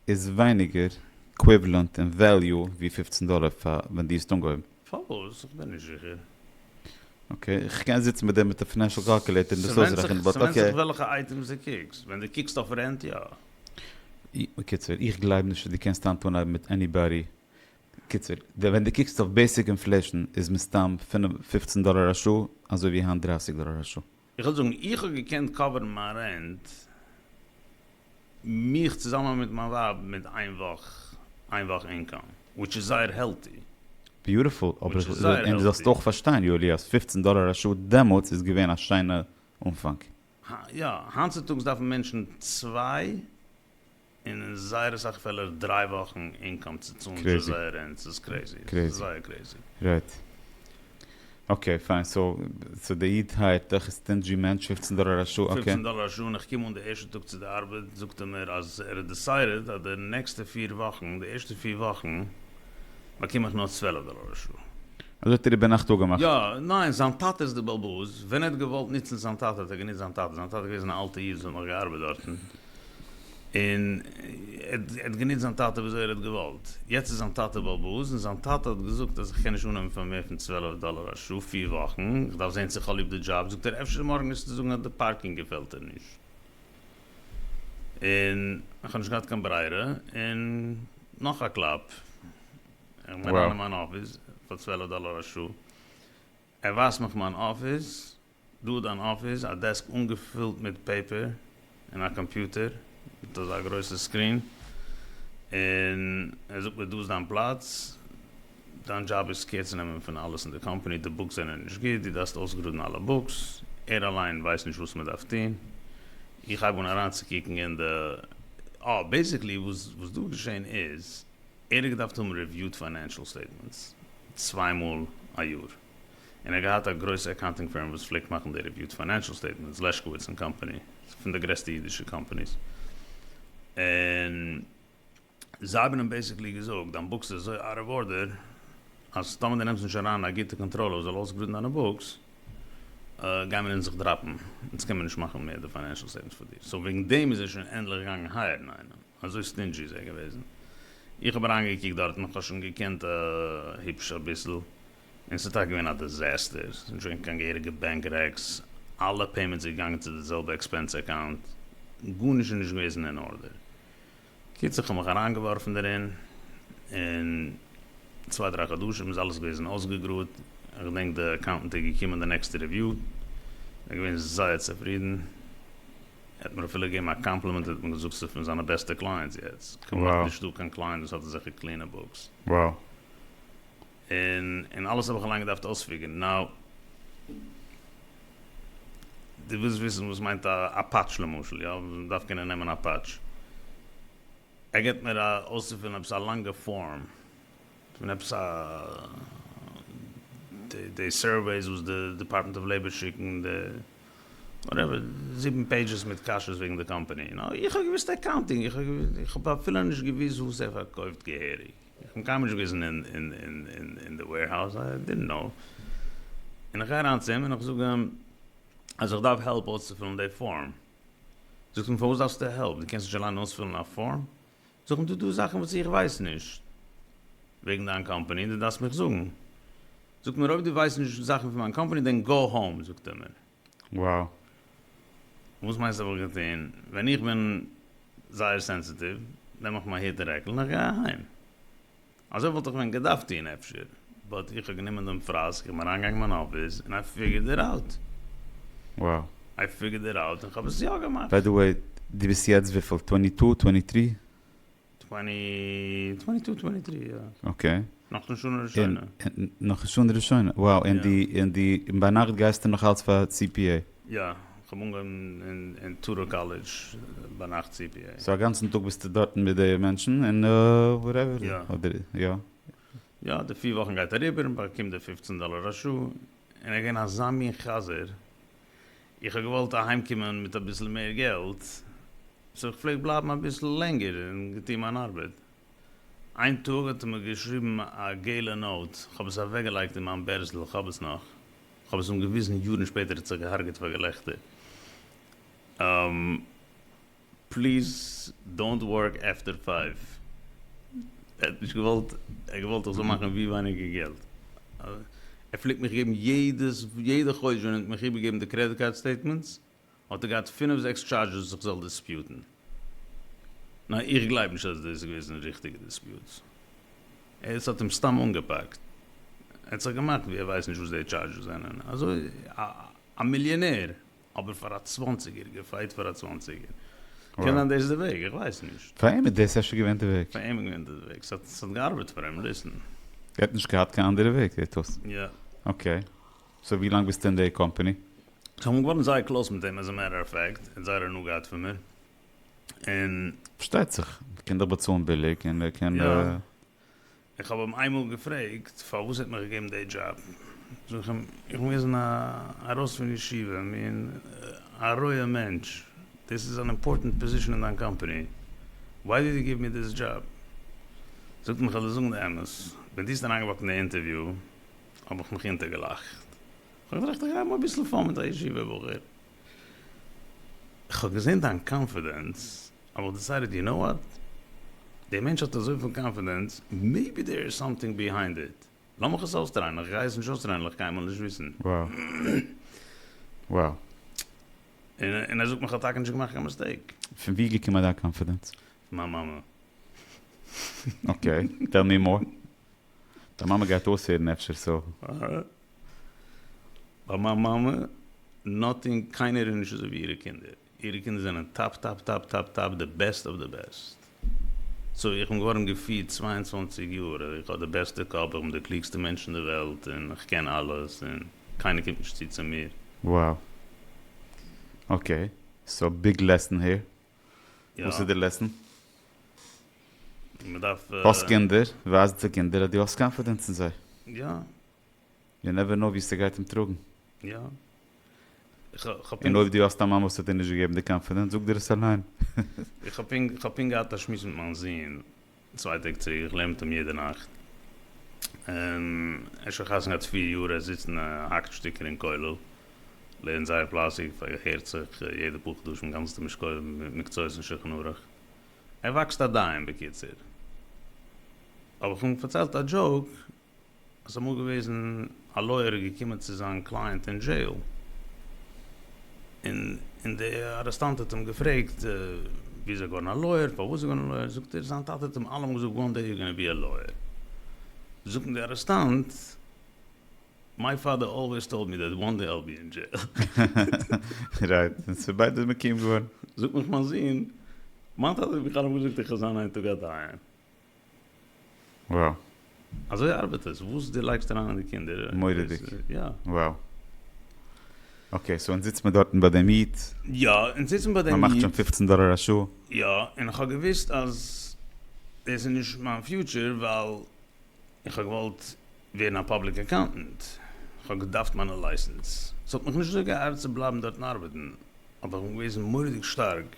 Speaker 1: איז ווייניגער עקוויוועלענט אין וועליו ווי פֿופֿצן דאלער פאר ווען דו האסט אנגעהויבן. פארוואס?
Speaker 2: איך בין נישט זיכער. אקעי,
Speaker 1: איך קען זיצן מיט דעם מיט א פינענשל קאלקולעיטער און דאס אויסרעכענען, באט אקעי. ס'ווענדט זיך וועלכע אייטעמס
Speaker 2: דו קוקסט, ווען דו קוקסט אויף רענט יא. בקיצור,
Speaker 1: איך גלייב נישט אז דו קענסט היינט אנהייבן מיט עניבאדי, בקיצור, ווען דו קוקסט אויף בעיסיק אינפלעישן איז מסתם פֿינף, פֿופֿצן דאלער א שעה, אזוי ווי היינט דרײַסיק דאלער א שעה. איך וועל זאגן, איך האב
Speaker 2: געקענט קאווערן מיין רענט, מיך צוזאמען מיט מיין ווייב, מיט איין וואך, איין וואך אינקאם, וויטש איז זייער העלטי. ביוטיפול, אבער איך וויל און דו זאלסט
Speaker 1: אויך פארשטיין
Speaker 2: יואלי
Speaker 1: אז פֿופֿצן דאלער א שעה דעמאלטס איז געווען א שיינע אנפאנג. יא,
Speaker 2: היינט צוטאגס דארפן מענטשן צוויי און אין זייער אסאך פעלער דריי וואכן אינקאם צו צאלן צו זייער רענט, ס'איז
Speaker 1: קרעזי,
Speaker 2: ס'איז זייער קרעזי. רייט.
Speaker 1: אקעי פיין, סאו די איד הייערט דיך איז סטינדזשי מענטש, פֿופֿצן דאלער א שעה, אקעי. פֿופֿצן דאלער א שעה, און איך קום אן די
Speaker 2: ערשטע טאג צו די ארבעט זאגט ער מיר אז ער האט דיסיידעד אז די נעקסטע פֿיר וואכן, די ערשטע פֿיר וואכן באקום איך נאר צוועלף דאלער א שעה. אזוי האט ער איבער
Speaker 1: נאכט אפגעמאכט? יא, ניין, זיין
Speaker 2: טאטע איז די בלבוז, ווען ער האט געוואלט נוצן זיין טאטע האט ער גענוצט זיין טאטע, זיין טאטע איז געוועזן א אלטע איד וואס האט נאך געארבעט דארטן. און ער האט גענוצט זיין טאטע וויאזוי ער האט געוואלט. יעצט איז זיין טאטע בעל בית, און זיין טאטע האט געזאגט אז איך קען נישט אננעמען פאר מער פון צוועלף דאלער א שעה פיר וואכן, איך דארף זען צו איך האב ליב די דזשאב, זאגט ער אפשר מארגן וועסטו זאגן אז די פארקינג געפעלט דיר נישט. און איך האב נישט געהאט קיין ברירה, און נאך א קלאפ, איך בין אריין אין מיין אפיס פאר צוועלף דאלער א שעה, ער ווייזט מיך מיין אפיס, דא איז אן אפיס, א דעסק אנגעפילט מיט פעיפער, און א קאמפיוטער מיט אזא גרויסע סקרין, און ער זאגט מיר דא איז דיין פלאץ, דיין דזשאב איז קעיר צו נעמען פון אלעס אין די קאמפאני, די בוקס זענען נישט גוט, דו דארפסט אויסגראדן אלע בוקס, ער אליין ווייסט נישט וואס מען דארף טון, איך הייב אן אריינצוקוקן אין די, אה, בעיסיקלי וואס וואס דא געשען איז, ער האט געדארפט האבן רעוויוד פיינענשאל סטעיטמענטס צוויי מאל א יאר, און ער האט געהאט א גרויסע אקאונטינג פירם וואס פלעגט מאכן די ריוויוט פיינענשעל סטעיטמענטס, לעשקאוויץ און קאמפאני, פון די גרעסטע אידישע קאמפאניס, און זיי האבן אים בעיסיקלי געזאגט, דיין בוקס איז אזוי אוט אוו ארדער, אז טאמער דו נעמסט נישט אריין א גוטע קאנטראלער וואס זאל אויסגראדן דיינע בוקס, גייען מיר אונז דיך דראפן, אונז קען מיר נישט מאכן מער די פיינענשעל סטעיטמענטס פאר דיר, סאו וועגן דעם איז ער שוין ענדליך געגאנגען הייערן איינעם, אזוי סטינדזשי איז ער געוועזן, איך האב אריינגעקוקט דארט און איך האב שוין געקענט היפש אביסל. און ס'איז טאקע געווען א דיזעסטער, ס'איז נישט געווען קיין געהעריגע בענק רעקס, אלע פעימענטס איז געגאנגען צו די זעלבע עקספענס אקאונט, גארנישט איז נישט געוועזן אין ארדער. קיצער כ'האב מיך אריינגעווארפן דערין, און צוויי דריי חדשים איז אלעס געוועזן אויסגעגראד, כ'דענק די אקאונטענט איז געקומען די נעקסטע ריוויו, ער איז געווען זייער צופרידן, ער האט מיר אפילו געגעבן א קאמפלימענט און האט מיר געזאגט ס'איז פון זיינע בעסטע קלייענטס יעצט, כמעט נישטא קיין
Speaker 1: קלייענט וואס האט
Speaker 2: אזעלכע קלינע בוקס.
Speaker 1: און
Speaker 2: און אלעס האב איך אליין געדארפט אויספיגערן. נאו. דו ווילסט וויסן וואס מיינט א א פאטש למשל, יא? מען דארף קענען נעמען א פאטש. ער געבט מיר א אויסצופילן עפעס א לאנגע פארם, פון עפעס א די די סורוועיס וואס די דעפארטמענט אוו לעיבאר שיקן, די וואטעווער, זיבן פעידזשעס מיט קשיות וועגן די קאמפאני. נאו, איך האב געוויסט אקאונטינג, איך האב אפילו נישט געוויסט וואס ער פארקויפט געהעריג. איך בין קיינמאל נישט געוועזן אין די וועירהאוז, איי דידנט קנאו, און איך גיי אריין צו אים און איך זאג אים אז איך דארף העלפ אויסצופילן די פארם, זאגט ער מיר פארוואס דארפסטו העלפ, דו קענסט נישט אליין אויספילן א פארם? זאג איך אים דא דא זאכן וואס איך ווייס נישט וועגן דיין קאמפאני און דו דארפסט מיך זאגן, זאגט ער מיר אויב דו ווייסט נישט זאכן פון מיין קאמפאני דען גאו האום, זאגט ער מיר. wow. וואס מיינסטו וואלט איך געטון? ווען איך בין זייער סענסיטיוו נעם איך מיין היט און רעקל און איך גיי אהיים. אזוי וואלט איך ווען געדארפט טון אפשר, באט איך האב גענומען דעם פראסק, איך בין אריינגעגאנגען אין מיין אפיס און איי פיגערד איט אוט. wow.
Speaker 1: איי פיגערד
Speaker 2: איט אוט און כ'האב עס יא געמאכט. ביי די וועי, דו
Speaker 1: ביסט יעצט וויפיל? טווענטי טו? טווענטי טרי?
Speaker 2: אקעי. נאך די שנה ראשונה. נאך די שנה
Speaker 1: ראשונה. וואו. און די און די און ביינאכט גייסטו נאך אלץ פאר סי פי עי? יא. כ'האב
Speaker 2: אנגעהויבן אין טאראו קאלעדזש ביינאכט סי פי עי. סאו אגאנצן טאג ביסטו
Speaker 1: דארטן מיט די מענטשן און וואטעווער. יא. אדער יא. יא. די
Speaker 2: פיר וואכן גייט אריבער און באקומט די פופצן דאלער א שעה. און ער איז געווען אזא מין חזיר. איך האב געוואלט אהיימקומען מיט אביסל מער געלט, סאו איך פלעג בלייבן אביסל לענגער און געטון מיין ארבעט. איין טאג האט ער מיר געשריבן א געלע נאוט, כ'האב עס אוועקגעלייגט אין מיין בערזל, איך האב עס נאך, כ'האב עס אים געוויזן יארן שפעטער, ער האט זיך געהארגעט פאר געלעכטער. פליז דאונט ווארק עפטער פייוו. ער האט נישט געוואלט, ער האט געוואלט איך זאל מאכן ווי ווייניגער געלט. ער פלעגט מיך געבן יעדעס יעדע חודש ווען ער האט מיך איבערגעגעבן די קרעדיט קארד סטעיטמענטס האט ער געהאט פינף זעקס טשארדזשעס וואס איך זאל דיספיוטן. ניין איך גלייב נישט אז דאס איז געוועזן ריכטיגע דיספיוטס. עס האט אים סתם אנגעפאקט. ער האט זיך געמאכט ווי ער ווייסט נישט וואס די טשארדזשעס זענען. אזוי א מיליאנער. אבער פאר א צוואנציגער גער פייט פאר א צוואנציגער. קען זיין דאס איז די וועג, איך ווייס נישט. פאר אים איז דאס אפשר געווען
Speaker 1: די וועג. פאר אים איז געווען דאס די וועג.
Speaker 2: ס'האט ס'האט געארבעט פאר אים, ליסן. ער האט נישט געהאט
Speaker 1: קיין אנדערע וועג זעט אויס. יא. אקעי. סאו ווי לאנג ביסטו אין די קאמפאני? איך בין געווארן
Speaker 2: זייער קלאוס מיט אים, עז א מעטער אף פעקט, ער האט זייער הנאה געהאט פון מיר. און. פארשטייט זיך.
Speaker 1: ער קען דאך באצאלן ביליג און ער קען. יא.
Speaker 2: איך האב אים איינמאל געפרעגט פארוואס ער האט מיר געגעבן די דזשאב, זאג איך אים, איך מוז ווען ארויס פון ישיבה, מין א רויע מענטש, דאס איז אן אימפארטענט פאזישן אין דיין קאמפאני, וויי דיד יו גיוו מי דיס דזשאב? זאגט ער מיר, כ'וועל דיר זאגן די אמת, ווען דו האסט אריינגעוואקט אין די אינטערוויו האב איך מיך אונטערגעלאכט, כ'האב געטראכט איך גייב אים אביסל פאן מיט א ישיבה בחור, איך האב געזען דיין קאנפידענס, אבער איך האב דיסיידעד, יו נאו וואט? דער מענטש האט אזויפיל קאנפידענס, מעיבי דעיר איז סאמטינג ביהיינד איט. לאמיך עס אויסטרייען, איך גיי עס נישט אויסטרייען וועל איך קיינמאל נישט וויסן.
Speaker 1: וואו.
Speaker 2: און ער זאגט מיך כ'האב טאקע נישט געמאכט קיין מיסטעיק. פון וואו איז געקומען דיין
Speaker 1: קאנפידענס? פון מיין מאמע.
Speaker 2: אקעי,
Speaker 1: טעל מי מאר. דיין מאמע גייט אויסהערן אפשר סא. אהה.
Speaker 2: ביי מיין מאמע נאטינג קיינער איז נישט אזוי ווי אירע קינדער, אירע קינדער זענען טאפ טאפ טאפ טאפ טאפ די בעסט אוו די בעסט. סא איך בין געווארן געפירט צוויי און צוואַנציק יאר אז איך האב די בעסטע קאפ, איך בין די קלוגסטע מענטש אין די וועלט און איך קען אלעס און קיינער קומט נישט צו צו מיר. Wow.
Speaker 1: אקעי. סא ביג לעסן
Speaker 2: העיר.
Speaker 1: וואס איז די לעסן?
Speaker 2: האסט קינדער,
Speaker 1: ווייז די קינדער אז דו האסט קאנפידענס אין זיי. יא.
Speaker 2: יו
Speaker 1: נעווער נאו ווי ס'גייט אים טראגן. יא.
Speaker 2: און אויב דו האסט א מאן וואס האט
Speaker 1: דיר נישט געגעבן די קאנפידענס, זאג דיר עס אליין. איך
Speaker 2: האב פונקט געהאט א שמועס מיט מיין זון. צוויי טעג צוריק איך לערנט אים יעדע נאכט און ער איז שוין חתונה געהאט פֿיר יאר ער זיצט און ער האקט שטיקער אין כולל לערנט זייער פלייסיג פארהערט זיך יעדע פאר חדשים גאנצעטע משקויים מיט מקצועות און שולחן ערוך ער וואקסט א דיין בקיצור האב איך אים פארציילט א דזשאוק. עס איז אמאל געוועזן א לויער איז געקומען צו זיין קלייענט אין דזשעיל, און די ארעסטאנט האט אים געפרעגט ווי איז ער געווארן א לויער, פארוואס איז ער געווארן א לויער, זאגט ער זיין טאטע האט אים אלעמאל געזאגט וואן דעי יו גאנא בי א לויער, זאגט אים די ארעסטאנט מיי פאדער אלוועיס טאלד מי דעט וואן דעי איל בי אין דזשעיל.
Speaker 1: רייט, און ס'איז ביידע מקוים געווארן. זאגט מיך מיין זון,
Speaker 2: מיין טאטע האט מיך אלעמאל געזאגט איך וועל זיין איין טאג א דיין. וואו. אזוי ארבעט עס, וואס דו לייגסט אריין אין די קינדער. מורא'דיג. יא.
Speaker 1: וואו. אקעי, סאו אונז זיצט מען דארטן ביי דעם איד. יא, אונז זיצן
Speaker 2: ביי דעם איד. מ'מאכט שוין פופצן דאלער א
Speaker 1: שעה. יא, און איך האב
Speaker 2: געוואוסט אז דאס איז נישט מיין פיוטשער, ווייל איך האב געוואלט ווערן א פאבליק אקאונטענט. איך האב געדארפט מיינע לייסענס. ס'האט מיך נישט אזוי געארט צו בלייבן דארטן ארבעטן, אבער איך בין געוועזן מורא'דיג שטארק.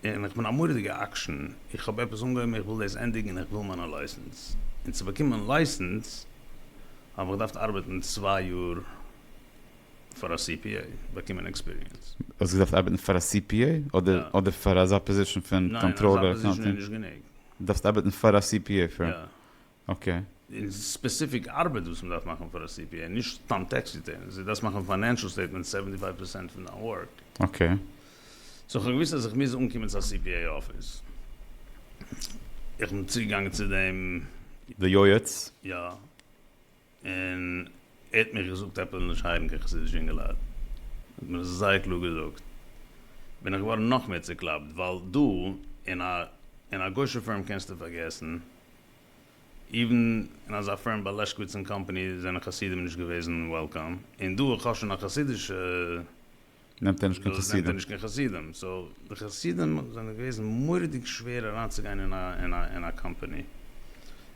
Speaker 2: און איך בין א מורא'דיגע אקשן, איך האב עפעס אנגעהויבן איך וויל דאס ענדיגן און איך וויל מיינע לייסענס, און צו באקומען לייסענס האב איך געדארפט ארבעטן צוויי יאר פאר א CPA, באקומען עקספיריענס. האסט געדארפט ארבעטן
Speaker 1: פאר א CPA? אדער פאר אזא פאזישן פון קאנטראלער? ניין, אזא פאזישן איז נישט
Speaker 2: גענוג. דארפסט ארבעטן
Speaker 1: פאר א CPA פירם? יא.
Speaker 2: אקעי.
Speaker 1: און
Speaker 2: ספעסיפיק ארבעט וואס מען דארף מאכן פאר א סי פי עי, נישט סתם טעקס ריטערנס, דו דארפסט מאכן פיינענשעל סטעיטמענטס סעווענטי פייוו פערסענט פון דיין ווארק. אקעי.
Speaker 1: סאו
Speaker 2: כ'האב געוואוסט אז איך מוז אנקומען צו א סי פי עי אפיס. איך בין צוגעגאנגען צו דעם. די יועץ?
Speaker 1: יא.
Speaker 2: און ער האט מיך געזאגט עפעס נישט הייבן קיין חסידישע אינגעלייט, ער האט מיר עס זייער קלאר געזאגט, בין איך געווארן נאך מער צוקלאפט, ווייל דא אין א אין א גוישע פירם קענסטו פארגעסן, איווען אין אזא פירם ביי לעשקוויץ און קאמפאני זענען חסידים נישט געוועזן וועלקאם, און דא איך האב שוין א חסידישע. נעמט ער
Speaker 1: נישט קיין דאס נעמט ער חסידים. נישט
Speaker 2: קיין חסידים. סאו די חסידים זענען געוועזן מורא'דיג שווער אריינצוגיין אין א אין א אין א קאמפאני.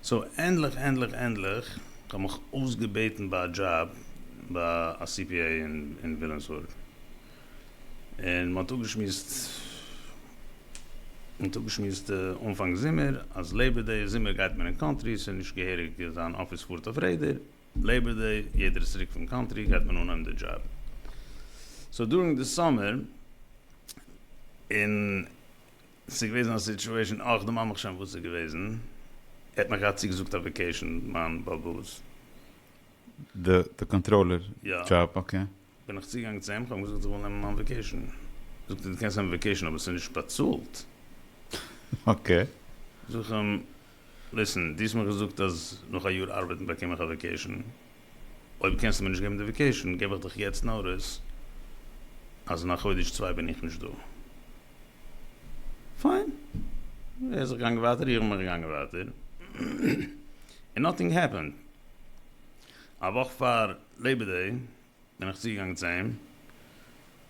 Speaker 2: סאו ענדליך ענדליך ענדליך כ'האב מיך אויסגעבעטן ביי א דזשאב ביי א סי פי עי אין אין וויליאמסבורג. און מ'האט אפגעשמועסט מ'האט אפגעשמועסט אנפאנג זומער אז לעיבער דעי זומער גייט מען אין קאנטרי ס'איז נישט געהעריג זיין אפיס פארט אויף רעדער. לעיבער דעי, יעדער איז צוריק פון קאנטרי, גייט מען אנהויבן די דזשאב. סאו דורינג די סאמער, און ס'איז געוועזן א סיטשועישאן אויך דעם עמך שם וואס איז געוועזן, ער האט מיך געהאט צוגעזאגט א וועקעישאן, מיין באבוס.
Speaker 1: די קאנטראלער דזשאב, אקעי. בין איך צוגעגאנגען צו
Speaker 2: אים, כ'האב אים געזאגט איך וויל נעמען מיין וועקעישן, זאגט ער דו קענסט נעמען וועקעישן אבער ס'איז נישט באצאלט.
Speaker 1: אקעי. זאג איך
Speaker 2: אים, ליסן, דו האסט מיר געזאגט אז נאך א יאר ארבעטן באקום איך א וועקעישן, אויב קענסטו מיר נישט געבן די וועקעישן געב איך דיך יעצט נאטיס אז אין א חודש צוויי בין איך נישט דא. פיין. ער איז זיך געגאנגען ווייטער, איך בין מיך געגאנגען ווייטער, און נאטינג העפענד. א וואך פאר. לעבעדיג בין איך צוגעגאנגען צו אים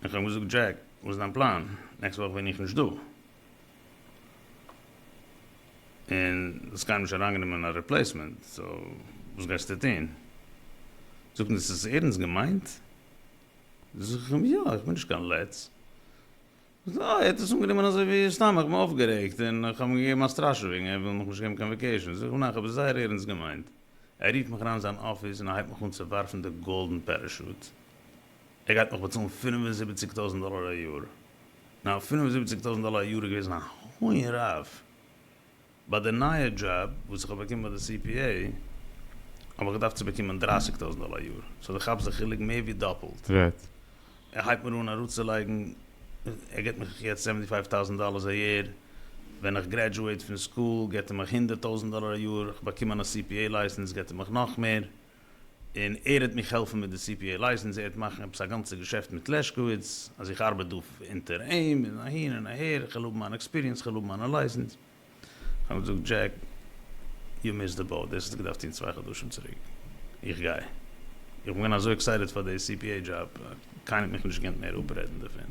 Speaker 2: און כ'האב אים געזאגט, דזשעק, וואס איז דיין פלאן? נעקסט וואך בין איך נישט דא. און ס'איז קיינער נישט אריינגענומען א ריפלעיסמענט, סאו וואס גייסטו טון? זאגט מיר, ס'איז ערנסט געמיינט? זאג איך אים, יא, איך בין נישט קיין לץ. וויאזוי ער האט עס אנגענומען אזוי ווי סתם איך בין אויפגערעגט און איך האב אים געגעבן א סטראשעווינג ער וויל מיך נישט געבן קיין וועקעישאן זאג אים ניין איך האב עס זייער ערענסט געמיינט ער רופט מיך אריין אין זיין אפיס און ער הייבט מיך אן צו ווארפן די גאלדן פערעשוט ער גייט מיך באצאלן פֿינף און זיבעציק טויזנט דאלאר א יאר נאו פֿינף און זיבעציק טויזנט דאלאר א יאר איז געוועזן א הויען רעוו. ביי די נייע דזשאב וואס איך האב באקומען ביי די סי פי עי, האב איך געדארפט צו באקומען דרייסיג טויזנט דאלער א יאר, סאו דו כאפסט די חילוק מער ווי דאפלט. רעדט.
Speaker 1: ער הייבט מיר
Speaker 2: אן אראפצולייגן, ער געבט מיך יעצט סעווענטי פייוו טאוזענט דאלערס א יער, ווען איך גרעדזשועט פון סקול געבט ער מיך הונדערט טויזענט דאלער א יאר, איך באקום מיין א סי פי עי לייסענס געבט ער מיך נאך מער. און ער העט מיך העלפן מיט די סי פי עי לייסענס, ער העט מאכן עפעס א גאנצע געשעפט מיט לעשקאוויץ, אז איך ארבעט דא אונטער אים, און אהין און אהער, איך וויל האבן מיין עקספיריענס, איך וויל האבן מיינע לייסענס. איך האב אים געזאגט, דזשעק, יו מיסד די באוט, דאס האסטו געדארפט טון צוויי חדשים צוריק, איך גיי. איך בין געווען אזוי עקסייטעד פאר די סי פי עי דזשאב, קיינער האט מיך נישט געקענט מער אפרעדן דערפון.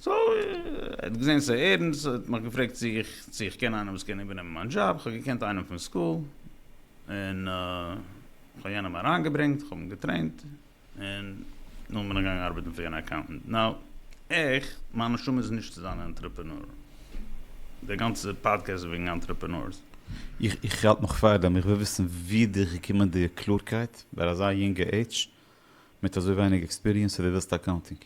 Speaker 1: סאו ער
Speaker 2: האט געזען ס'איז ערנסט, ער האט מיך געפרעגט צו איך צו איך קען איינעם וואס קען איבערנעמען מיין דזשאב, איך האב געקענט איינעם פון סקול, און איך האב יענעם אריינגעברענגט, איך האב אים געטרעינט, און נאכדעם בין איך געגאנגען ארבעטן פאר יענע אקאונטענט. נאו, איך, מיין נשמה איז נישט צו זיין א אנטרעפענור. דער גאנצער פאדקעסט איז וועגן אנטרעפענורס. איך
Speaker 1: האלט נאך פאר דעם, איך וויל וויסן ווי די געקומען די קלארקייט ביי אזא יונגע עידזש מיט אזוי ווייניג עקספיריענס אז די ווילסט אקאונטינג.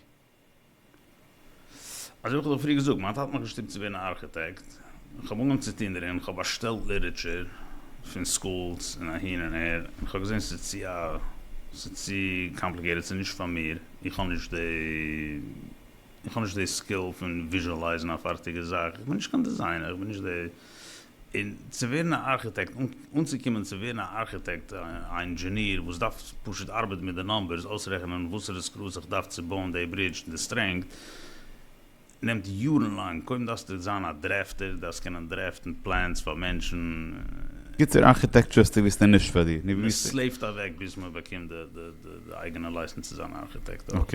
Speaker 1: אזוי
Speaker 2: ווי איך האב דיר פריער געזאגט, מיין טאטע האט מיך געשטופט צו ווערן א ארכיטעקט, איך האב אנגעהויבן צו טון דערין, איך האב באשטעלט ליטערטשער פון סקולס און אהין און אהער, און איך האב געזען ס'איז צו א ס'איז צו קאמפליקעיטעד ס'איז נישט פאר מיר, איך האב נישט די איך האב נישט די סקיל פון וויזשעלייזן א פארטיגע זאך, איך בין נישט קיין דיזיינער, איך בין נישט די און צו ווערן א ארכיטעקט, אנצוקומען צו ווערן א ארכיטעקט, א אינדזשעניר וואס דארף פשוט ארבעטן מיט די נומבערס, אויסרעכענען וואסערע סקרוס איך דארף צו בויען די ברידזש און די סטרענגט, נעמט יארן לאנג, קודם דארפסטו זיין א דרעפטער, דארפסט קענען דרעפטן פלענס פאר מענטשן. גוטער
Speaker 1: ארכיטעקטשור האסטו געוויסט איז נישט פאר דיר. מען סלעיווט אוועק
Speaker 2: ביז מען באקומט די אייגענע לייסענס צו זיין א ארכיטעקט אויך.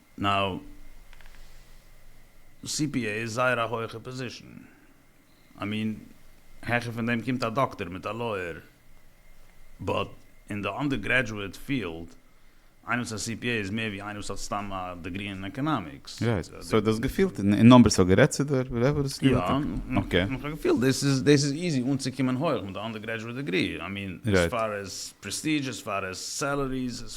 Speaker 2: נאו סי פי עי איז זייער א הויכע פאזישן, איי מין העכער פון דעם קומט א דאקטער מיט א לויער, באט אין די אנדער גרעדזשועט פיעלד, איינער וואס איז א סי פי עי איז מער ווי איינער וואס האט סתם א דעגרי אין עקאנאמיקס. רייט, סאו דו האסט
Speaker 1: געפילט אין נומבערס האט גערעדט צו דיר וואטעווער איז יא, איך
Speaker 2: האב געפילט
Speaker 1: דאס איז
Speaker 2: דאס איז איזי אנצוקומען הויעך מיט די אנדער גרעדזשועט דעגרי, איי מין עס פאר עס פרעסטידזש עס פאר עס סעלעריס.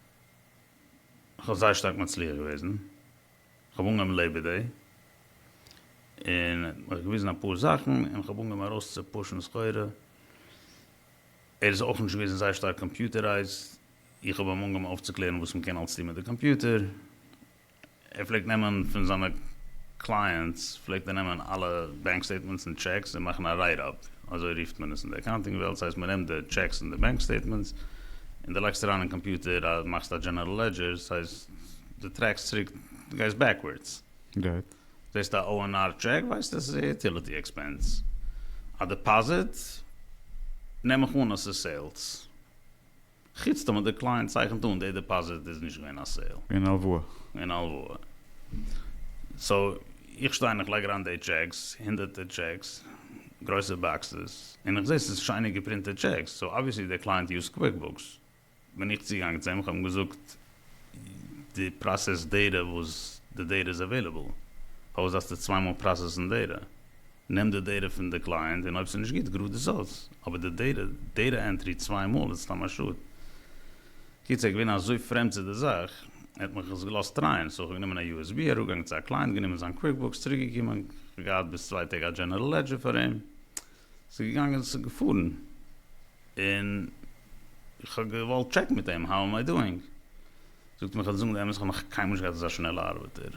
Speaker 2: איך האב זייער שטארק מצליח געוועזן, איך האב אנגעהויבן לעבער דעי, און ער האט מיך געוויזן אפאר זאכן, און איך האב אנגעהויבן ארויס צו פושן סחורה, ער איז אויך נישט געוועזן זייער שטארק קאמפיוטערייזד, איך האב אים אנגעהויבן אויפצוקלערן וואס מען קען אלץ טון מיט די קאמפיוטער, ער פלעגט נעמען פון זיינע קלייענטס פלעגט ער נעמען אלע בענק סטעיטמענטס און טשעקס און מאכן א רייט אפ, אזוי רופט מען עס אין די אקאונטינג וועלט, ס'הייסט מען נעמט די טשעקס און די בענק סטעיטמענטס און די לייגסט אריין אין קאמפיוטער א מאכסט א דזשענערל לעדזשער, ס'הייסט די טרעקסט צוריק די גייסט בעקווארדס. גוט.
Speaker 1: זעסט א
Speaker 2: ONR טשעק ווייסטו אז עס איז א יוטיליטי עקספענס. א דעפאזיט נעם איך אן אז ס'איז סעילס. חוץ טאמער די קלייענט צייכנט אן די דעפאזיט איז נישט געווען א סעיל. און הלוואה. און
Speaker 1: הלוואה.
Speaker 2: סאו איך שטיי און איך לייג אריין די טשעקס, הונדערטער טשעקס, גרויסע באקסעס, און איך זעה ס'איז שיינע געפרינטעד טשעקס, סאו אבוויעסלי די קלייענט יוזט קוויקבוקס, בין איך צוגעגאנגען צו אים, איך האב אים געזאגט די פראסעסט דעטע וואס די דעטע איז עוועילעבל, פארוואס דארפסטו צוויי מאל פראסעסן דעטע? נעם די דעטע פון די קלייענט און אויב ס'איז נישט גוט גראד עס אויס, אבער די דעטע דעטע ענטרי צוויי מאל איז סתם א שאד. קיצער איך געווען אזוי פרעמד צו די זאך, ער האט מיך עס געלאזט טרייען, סאו איך האב גענומען א usb אראפגעגאנגען צו א קלייענט גענומען זיין קוויקבוקס צוריקגעקומען, כ'האב געהאט ביז צוויי טעג א דזשענערל לעדזשער פאר אים. ס'איז געגאנגען, ס'איז געפארן, און איך האב געוואלט טשעקן מיט אים, האו עם איי דואינג? זאגט ער מיר, כ'וועל דיר זאגן די אמת, כ'האב נאך קיינמאל נישט געהאט אזא שנעלע ארבעטער,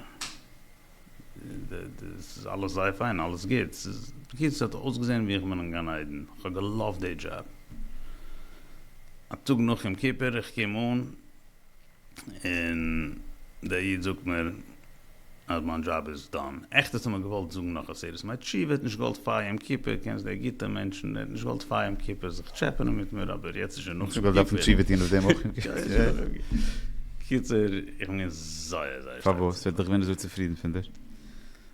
Speaker 2: ס'איז אלעס זייער פיין, אלעס גוט, ס'איז, בקיצור, ס'האט אויסגעזען ווי איך בין אין גן עדן, כ'האב געלאווט די דזשאב. א טאג נאך יום כיפור, איך קום אן, און דער איד זאגט מיר אז מיין דזשאב איז דאן, עכט האט ער מיר געוואלט זאגן נאך א סעודת מי תשיב, ער האט נישט געוואלט פאר יום כיפור, קענסט די עגיפטער מענטשן, ער האט נישט געוואלט פאר יום כיפור זיך טשעפענען מיט מיר, אבער יעצט
Speaker 1: איז שוין
Speaker 2: נאך
Speaker 1: יום
Speaker 2: כיפור. קיצור,
Speaker 1: איך בין
Speaker 2: געווען
Speaker 1: זייער
Speaker 2: זייער שטארק צופרידן. פארוואס? ער האט דאך געווען אזוי
Speaker 1: צופרידן פון דיר.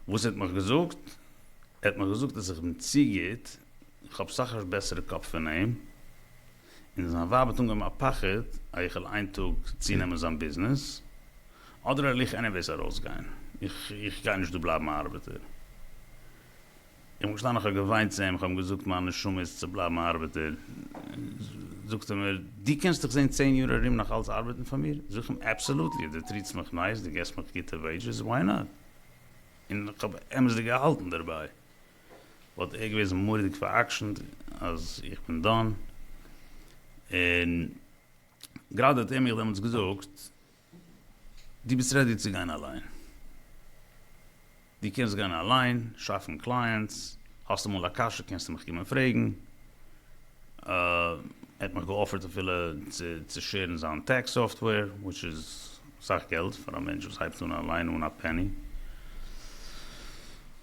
Speaker 1: וואס ער האט
Speaker 2: מיך געזאגט? ער האט מיך געזאגט אז איך בין צו גוט, איך האב סאך א בעסערע קאפ פון אים, און זיין ווייב האט אנגעהויבן א פחד אז איך וועל איין טאג צונעמען זיין ביזנעס, אדער וועל איך עניוועיס ארויסגיין, איך גיי נישט דא בלייבן א ארבעטער. איך בין געשטאנען איך האב געוויינט צו אים, איך האב אים געזאגט מיין נשמה איז צו בלייבן א ארבעטער, זאגט ער מיר דו קענסט דיך זעהן צען יאר ארום נאך אלץ ארבעטן פאר מיר? זאג איך אים אבסעלוטלי, דו טריטסט מיך נייס, דו געסט מיך גוטע וועידזשעס, וויי נאט? און איך האב אמת'דיג געהאלטן דערביי. וואלט ער געוועזן מורא'דיג פאר'עקשנ'ט אז איך בין דאן, און גראדע האט ער מיך דעמאלטס געזאגט, דו ביסט רעדי צו גיין אליין, דו קענסט גיין אליין, שאפן קלייענטס, האסט אמאל א קשיא קענסטו מיך קומען פרעגן, ער האט מיך געאפערט אפילו צו שעירן זיין טעקס סאפטוועיר, וויטש איז. סאך געלט פאר א מענטש וואס הייבט אן אליין אן א פעני.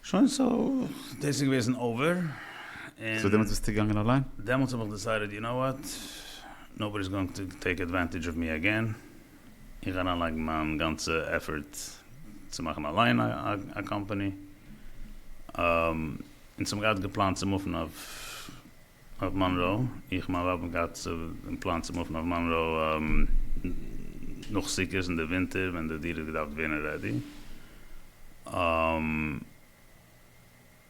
Speaker 2: שוין סאו דאס איז געוועזן אווער און. סאו דעמאלטס
Speaker 1: ביסטו געגאנגען אליין? דעמאלטס האב איך דיסיידעד
Speaker 2: יו נאו וואט, נאובאדי איז גאוינג טו טעיק עדוואנטעדזש אוו מי עגעין, איך גיי אריינלייגן מיין גאנצע עפערט צו מאכן אליין א קאמפאני, און ס'האב געהאט געפלאנט צו מופן אויף אויף מאנרא, איך מיין רב האט געהאט אין פלאן צו מופן אויף מאנרא נאך סוכות אין די ווינטער ווען די דירה האט געדארפט ווערן רעדי,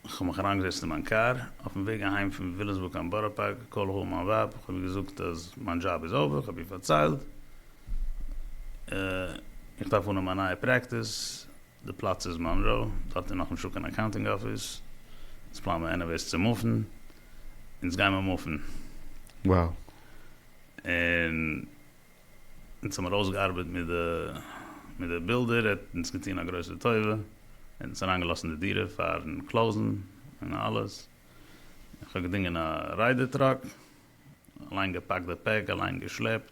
Speaker 2: כ'האב מיך אריינגעזעצט אין מיין קאר אויפן וועג אהיים פון וויליאמסבורג קיין בארא פארק, קאלעכאל מיין ווייב, כ'האב איר געזאגט אז מיין דזשאב איז אווער, כ'האב איר פארציילט איך דארף אנהייבן א נייע פרעקטיס, די פלאץ איז מאנרא, דארט איז נאך נישט דא קיין אקאונטינג אפיס, אונז פלאן מיר עניוועיס צו מופן, אונז גיימער מופן. וואו? און אונז האמיר אויסגעארבעט מיט די מיט די בילדער, ער האט אונז געטון א גרויסע טובה, ער האט אונז אריינגעלאזט אין די דירה פארן קלאוזן און אלעס, איך האב געדינגען א ריידער טראק, אליין געפאקט די פעק, אליין געשלעפט.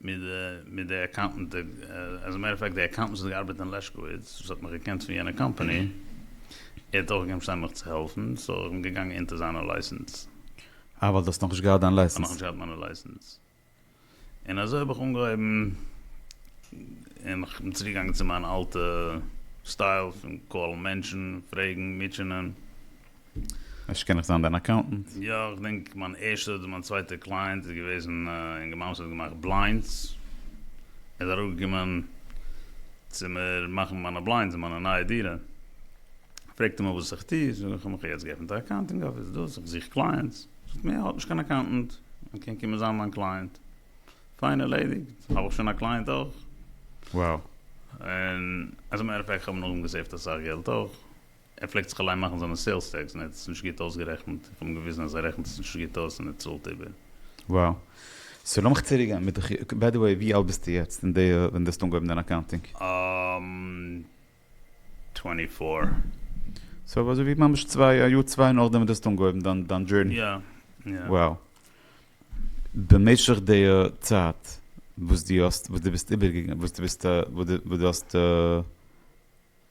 Speaker 2: מיט די אקאונטענט, עז א מעטער אוו פעקט די אקאונטענט וואס האט געארבעט אין לעשקאוויץ וואס האט מיך געקענט פון יענע קאמפאני, ער האט אויך געמוזט זיין מיך צו העלפן, סאו איך בין געגאנגען אונטער זיינע לייסענס. אה ווייל דו האסט
Speaker 1: נאכנישט געהאט דיין לייסענס. נאכנישט געהאט מיינע לייסענס.
Speaker 2: און אזוי האב איך אנגעהויבן, און איך בין צוריקגעגאנגען צו מיין אלטע סטייל פון קאלן מענטשן, פרעגן, מוטשענען.
Speaker 1: אפשר קען איך זיין דיין אקאונטענט? יא, איך דענק
Speaker 2: מיין ערשטע אדער מיין צווייטע קלייענט איז געוועזן א אינגערמאן וואס האט געמאכט בליינדס, ער איז אראפגעקומען צו מיר מאכן מיינע בליינדס אין מיינע נייע דירה, פרעגט ער מיך וואס איך טוה, זאג איך אים איך האב יעצט געעפנט א אקאונטינג אפיס דאס, איך זוך קלייענטס, זאגט מיר ער האט נישט קיין אקאונטענט, ער קען קומען זיין מיין קלייענט, פיין ערלעדיגט, האב איך שוין א קלייענט אויך. Wow.
Speaker 1: און
Speaker 2: עז א מעטער אוו פעקט כ'האב נאכדעם געסעיווט אסאך געלט אויך. ער פלעגט זיך אליין מאכן זיינע סעילס טעקס און ער האט עס נישט גוט אויסגערעכנט, איך האב אים געוויזן אז ער רעכנט עס נישט גוט אויס און ער צאלט איבער. וואו.
Speaker 1: סאו לאמיך צוריק גיין מיט די חו. ביי די וועי ווי אלט ביסטו יעצט אין די ווען די האסט אנגעהויבן דיין אקאונטינג? אהמ.
Speaker 2: טווענטי
Speaker 1: פאר. סאו אזוי ווי ממש צוויי א יאר צוויי נאכדעם ווען די האסט אנגעהויבן דיין דיין דזשורני. יא יא. וואו. במשך די צייט וואס די האסט וואס די ביסט איבערגעגאנגען וואס די ביסט וואס די וואס די האסט.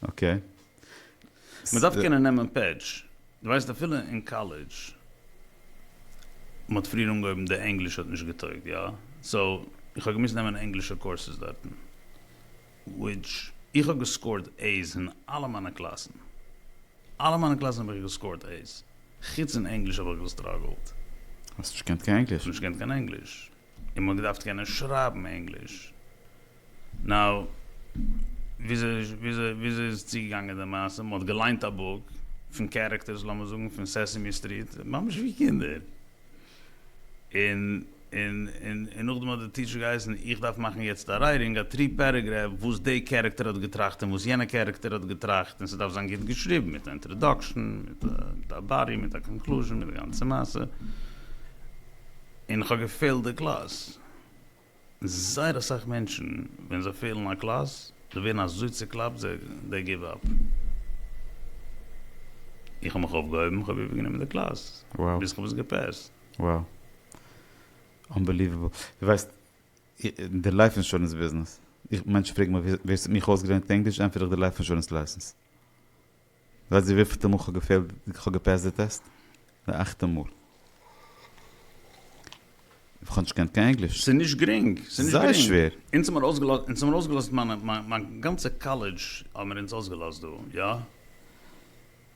Speaker 2: אקעי. מען דארף קענען נעמען פעטש. דו ווייסט אפילו אין קאלעדזש מען האט פריער אנגעהויבן די ענגליש האט נישט געטויגט יא סאו איך האב געמוזט נעמען ענגלישע קורסעס דארטן וויטש איך האב געסקארט עי'ס אין אלע מיינע קלאסן אלע מיינע קלאסן האב איך געסקארט עי'ס חוץ אין ענגליש האב איך געסטראגעלט. האסט נישט געקענט
Speaker 1: קיין ענגליש? נישט געקענט קיין ענגליש.
Speaker 2: און מ'האט געדארפט קענען שרייבן ענגליש. נאו. וויאזוי איז צוגעגאנגען די מעשה? מ'האט געליינט א בוק, פון קערעקטערס לאמיר זאגן פון סעסעמי סטריט, ממש ווי קינדער. און און נאכדעם האט די טיטשער געהייסן איך דארף מאכן יעצט א רייטינג, א טרי פערעגרעף, וואס די קערעקטער האט געטראכט און וואס יענע קערעקטער האט געטראכט, און ס'דארף זיין גוט געשריבן, מיט א אינטראדאקשן, מיט א באדי, מיט א קאנקלוזשן, מיט די גאנצע מעשה. און כ'האב געפעלט די קלאס. זייער אסאך מענטשן ווען זיי פעלן א קלאס, זיי ווערן אזוי צוקלאפט זיי דעי גיוו אפ. איך האב מיך אויפגעהויבן, כ'האב איבערגענומען די קלאס ביז כ'האב עס געפעסט. וואו.
Speaker 1: אנבעליוועבל. דו ווייסט, אין די לייף אינשורענס ביזנעס, איך, מענטשן פרעגן מיך ווער ס'האט מיך אויסגעלערנט ענגליש, ענטפער איך די לייף אינשורענס לייסענס. ווייסט איר וויפילטע מאל כ'האב געפעילט כ'האב געפעסט די טעסט? די אכטע מאל. כ'האב נישט געקענט קיין ענגליש. ס'איז נישט גרינג.
Speaker 2: ס'איז נישט גרינג. זייער שווער.
Speaker 1: אונז
Speaker 2: האבן ארויסגעלאזט אונז האבן ארויסגעלאזט מיינע מיין גאנצע קאלעדזש האבן מיר אונז אויסגעלאזט דא. יא.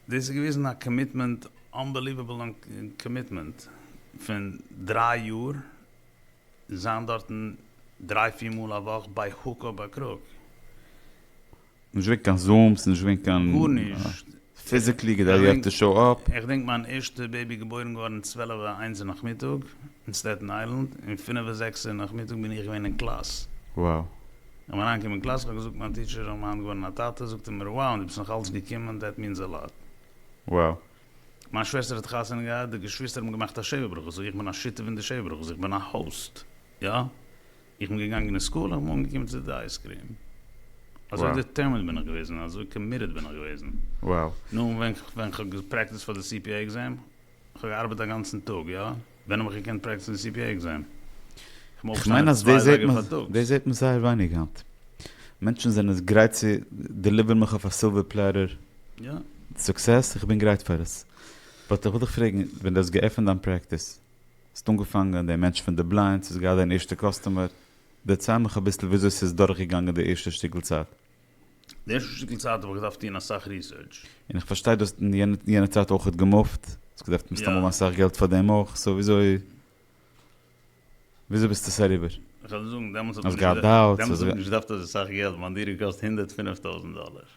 Speaker 2: דאס איז געוועזן א קאמיטמענט אנבעליוועבל קאמיטמענט פון דריי יאר זיין דארטן דריי פיר מאל א וואך ביי הוק אר ביי קרוק.
Speaker 1: נישט געווען קיין זום'ס, נישט געווען קיין. גארנישט.
Speaker 2: פיזיקלי
Speaker 1: כדי יו העוו טו שאו אפ. איך דענק מיין ערשטע
Speaker 2: בעיבי געבוירן געווארן צוועלעווע איינס אין נאכמיטאג אין סטעטן איילענד, און פינעווע זעקסע אין נאכמיטאג בין איך געווען אין קלאס. וואו.
Speaker 1: איך בין אריינגעקומען
Speaker 2: אין קלאס, איך האב געזאגט מיין טיטשער איך בין היינט געווארן א טאטע, זאגט ער מיר wow און דו ביסט נאך אלץ געקומען, דעט מינס א לאט. וואו.
Speaker 1: מיין
Speaker 2: שוועסטער האט חתונה געהאט, די געשוויסטער האבן געמאכט א שבע ברכות, זאג איך איך בין א שותף אין די שבע ברכות, איך בין א האוסט, יא? איך בין געגאנגען אין סקול איך בין אנגעקומען צו די אייזקריעם אזוי דיטערמינד בין איך
Speaker 1: געוועזן און
Speaker 2: אזוי קאמיטעד בין איך געוועזן נו און ווען
Speaker 1: ווען כ'האב
Speaker 2: געפרעקטיסט פאר די סי פי עי עקזעם כ'האב געארבעט אגאנצן טאג יא ווען האב איך געקענט פרעקטיסן די סי פי עי עקזעם כ'מעג אויפשטיין
Speaker 1: עפעס צוויי אזייגער פארטאגס. דאס זעט מען זייער ווייניג היינט מענטשן זענען גרייט צו דעליווערן מיך אויף א סילווער פלעטער
Speaker 2: סוקסעס איך
Speaker 1: בין גרייט פאר עס באט איך וויל דיך פרעגן ווען די האסט געעפענט דיין פרעקטיס ס'האט אנגעפאנגען דער מענטש פון די בליינדס איז געהאט זיין ערשטע קאסטומער, דערצייל מיך אביסל וויאזוי ס'איז דורכגעגאנגען די ערשטע שטיקל צייט. די ערשטע
Speaker 2: שטיקל צייט האב איך געדארפט טון אסאך ריסערטש. און איך פארשטיי דו האסט
Speaker 1: אין יענע צייט אויכעט געמופט, האסט געדארפט מסתם האבן אסאך געלט פאר דעם אויך, סאו וויאזוי וויאזוי ביסטו עס אריבער? איך וועל
Speaker 2: דיר זאגן, דעמאלטס האט מען נישט
Speaker 1: געדארפט
Speaker 2: אזוי אסאך געלט, מיין דירה קאסט הונדערט פֿינף טויזנט דאלער.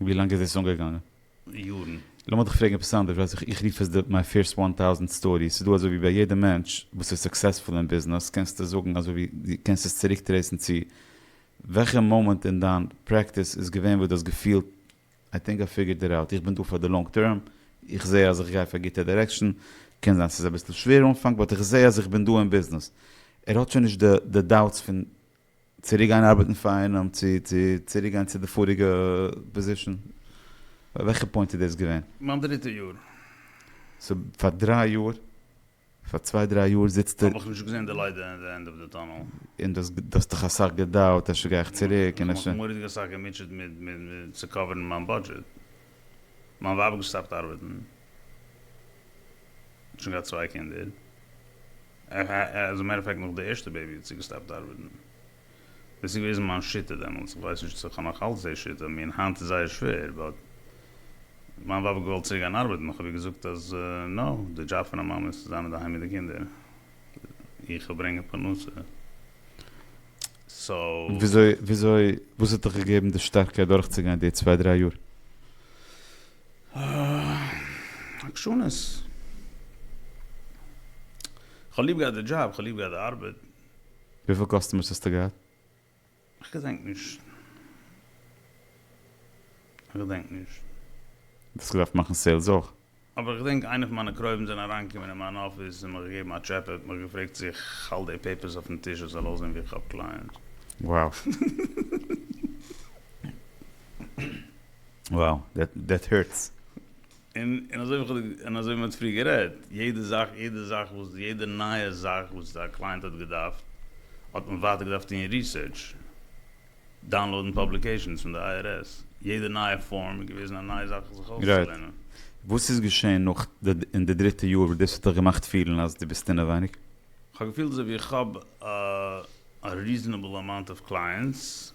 Speaker 2: ווי לאנג
Speaker 1: איז עס אנגעגאנגען? יארן.
Speaker 2: לאמיר דיך פרעגן עפעס
Speaker 1: אנדערש, ווייס איך, איך רוף עס די מיי פירסט וואן טאוזענט סטארי, ס'איז דא אזוי ווי ביי יעדע מענטש וואס איז סוקסעספול אין ביזנעס קענסטו זאגן אזוי ווי דו קענסט עס צוריק טרעיסן צו וועלכע מאמענט אין דיין פרעקטיס איז געווען וואס דו האסט געפילט איי טינק איי פיגערד איט אוט, איך בין דא פאר די לאנג טערם, איך זעה אז איך גיי אויף א גוטע דירעקשאן, קען זיין ס'איז אביסל שווער אנפאנג באט איך זעה אז איך בין דא אין ביזנעס, ער האט שוין נישט די דאוטס פון צוריק גיין ארבעטן פאר איינעם צו צוריק גיין צו די פאריגע פאזישן? ביי וועלכע פוינט איז דאס געווען? מיין דריטע יאר.
Speaker 2: סאו
Speaker 1: פאר דריי יאר, פאר צוויי דריי יאר זיצסטו. האב איך נישט געזען די לייט
Speaker 2: אין די ענד אוו די טאנעל. און דו האסט
Speaker 1: דיך אסאך געדאוט אפשר גיי איך צוריק און אפשר. איך האב מיך מורא'דיג אסאך
Speaker 2: געמוטשעט מיט צו קאווערן מיין בודזשעט. מיין ווייב האט געסטאפט ארבעטן. שוין געהאט צוויי קינדער. עז א מעטער אוו פעקט נאך די ערשטע בעיבי האט זי געסטאפט ארבעטן. דאס איז געוועזן מיין שיטה דעמאלטס, איך ווייס נישט צו איך האב נאך אלץ די שיטה, מין היינט איז זייער שווער, באט מיין ווייב האט געוואלט צוריק גיין ארבעטן, איך האב איר געזאגט אז נאו, די דזשאב פון א מאמע איז צו זיין אינדערהיים מיט די קינדער, איך וויל ברענגען פרנסה. סאו. וויאזוי,
Speaker 1: וואס האט דיך געגעבן די שטארקייט דורכצוגיין די צוויי דריי יאר?
Speaker 2: אה, עקשנות. כ'האב ליב געהאט די
Speaker 1: דזשאב,
Speaker 2: כ'האב ליב געהאט די
Speaker 1: ארבעט. וויפיל קאסטומערס
Speaker 2: האסטו
Speaker 1: געהאט?
Speaker 2: איך געדענק נישט. איך געדענק נישט. דו האסט געדארפט
Speaker 1: מאכן סעילס אויך. אבער איך געדענק איינע
Speaker 2: פון מיינע קרובים זענען אריינגעקומען אין מיין אפיס און מיך געגעבן א טשעפע, האט מיך געפרעגט צו איך האלט די פעיפערס אויפן טיש עס זאל אויסזען ווי איך האב קלייענטס. Wow.
Speaker 1: Wow, that that hurts. און און
Speaker 2: אזוי ווי כ'האב און אזוי ווי מ'האט פריער גערעדט, יעדע זאך יעדע זאך וואס יעדע נייע זאך וואס א קלייענט האט געדארפט, האט מען ווייטער געדארפט טון ריסערטש, דאונלאודן פאבליקעישאנס פון די IRS, יעדע נייע פארם איז געוועזן א נייע זאך זיך אויסצולערנען. וואס איז געשען
Speaker 1: נאך די אין די דריטע יאר וואס דאס האט דיך געמאכט פילן אז דו ביסט אינעווייניג? כ'האב געפילט אזוי ווי
Speaker 2: איך האב א ריזענעבל אמאונט אוו קלייענטס.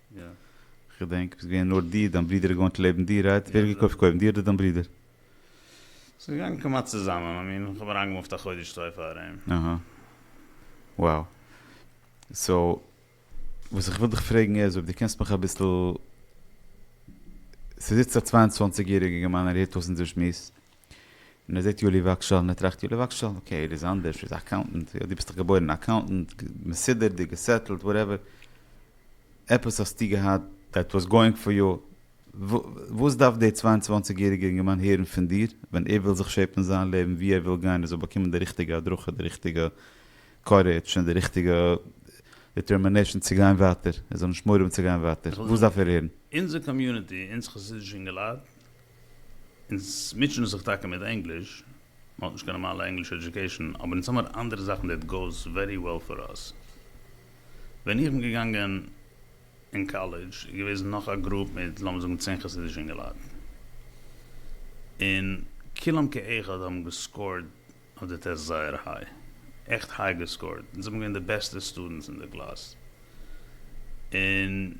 Speaker 2: כ'געדענק
Speaker 1: ביסט געווען נאר דיר, דיין ברודער איז געוואוינט לעבן דיר רייט? ווער האט געקויפט קודם דיר אדער דיין ברודער?
Speaker 2: ס'איז געגאנגען כמעט צוזאמען, מיין מין כ'האב אריינגעמופט א חודש צוויי פאר אים. אהא.
Speaker 1: וואו. סאו. וואס איך וויל דיך פרעגן איז אויב דו קענסט מיך אביסל. ס'זיצט א צוויי און צוואנציג יעריגער גערמאן ער הערט אויס אונזער שמועס. און ער זעט יואלי וואגשאל און ער טראכט יואלי וואגשאל אקעי ער איז אנדערש ער איז א אקאונטענט יא דו ביסט דאך געבוירן א אקאונטענט מסודר דו געסעטלט וואטעווער עפעס האסטו געהאט דעט וואס גאוינג פאר יו וואס דארף דער צוויי און צוואַנציק יעריגער אינגערמאן הערן פון דיר ווען ער וויל זיך שעפן זיין לעבן ווי ער וויל גיין ער זאל באקומען די ריכטיגע הדרכה די ריכטיגע קארעדש און די ריכטיגע דעטערמינעישאן צו גיין ווייטער ער זאל נישט מורא האבן צו גיין ווייטער וואס דארף ער הערן? אונזער קאמיוניטי
Speaker 2: אונז חסידישע אינגעלייט אונז מוטשען זיך טאקע מיט ענגליש, מען האט נישט קיין נארמאלע ענגליש עדיוקעישן, אבער אונז האמיר אנדערע זאכן דעט גאוס ווערי וועל פאר אס. ווען איך בין געגאנגען אין קאלעדזש איז געוועזן נאך א גרופ מיט לאמיר זאגן צען חסידישע אינגעלייט, און כולם כאחד האבן געסקארט אויף די טעסט זייער היי, עכט היי געסקארט, אונז זעמיר געווען די בעסטע סטודענטס אין די קלאס, און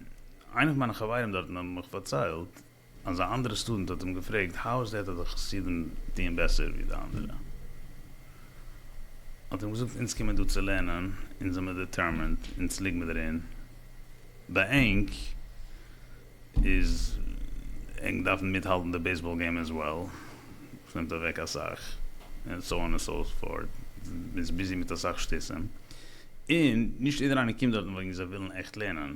Speaker 2: איינע פון מיינע חברים דארטן האבן מיך פארציילט, אז א אנדערע סטודענט האט אים געפרעגט האו איז דעט אז די חסידים טוען בעסער ווי די אנדערע האט אים געזאגט אונז קומען דא צו לערנען אונז זעמער דעטערמענד אונז ליגמער דערין ביי ענק איז ענק דארפן מיטהאלטן די בעיסבאל געים עז וועל וואס נעמט אוועק אסאך און סאו אן און סאו פארט מען איז ביזי מיט אסאך שטותים און נישט איעדער איינער קומט דארטן וועגן זיי ווילן עכט לערנען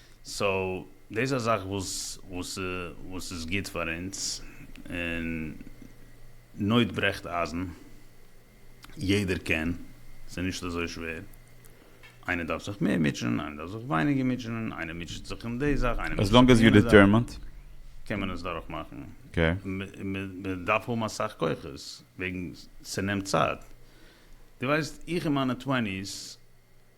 Speaker 2: סאו דאס איז א זאך וואס איז גוט פאר אונז, און נויט ברעכט אייזן, יעדער קען, ס'איז נישט אזוי שווער, איינער דארף זיך מער מוטשענען, איינער דארף זיך ווייניגער מוטשענען, איינער מוטשעט זיך אום די זאך, איינער מוטשעט זיך אום
Speaker 1: יענע
Speaker 2: זאך,
Speaker 1: קען מען עס
Speaker 2: דורך מאכן,
Speaker 1: מען דארף
Speaker 2: האבן אסאך כוחות, וועגן ס'נעמט צייט, דו ווייסט איך אין מיינע טוועניס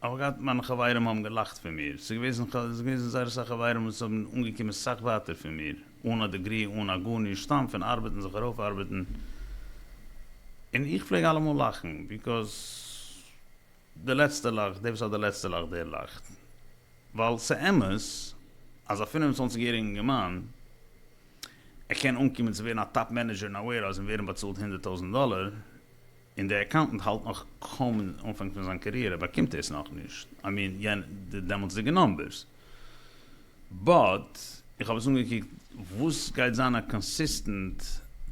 Speaker 2: כ'האב געהאט מיינע חברים האבן געלאכט פון מיר, ס'איז געוועזן ס'איז געוועזן זייער אסאך חברים וואס האבן אנגעקומען סאך ווייטער פון מיר, אן א דעגרי אן א גארנישט סתם פון ארבעטן זיך ארויפארבעטן, און איך פלעג אלעמאל לאכן ביקאוז די לעצטע לאכט, דער וואס האט די לעצטע לאכט דער לאכט, ווייל ס'אמת אז א פֿינף און צוואַנציק יעריגן אינגערמאן ער קען אנקומען צו ווערן א טאפ מענעדזשער אין א וועירהאוז און ווערן באצאלט הונדערט טויזענט דאלער, און דער אקאונטענט האלט נאך קוים אין אנפאנג פון זיין קאריערע ער באקומט עס נאכנישט, איי מין יענע די דעמאלטסדיגע נאמבערס, באט איך האב עס אנגעקוקט וואס גייט זיין א קאנסיסטענט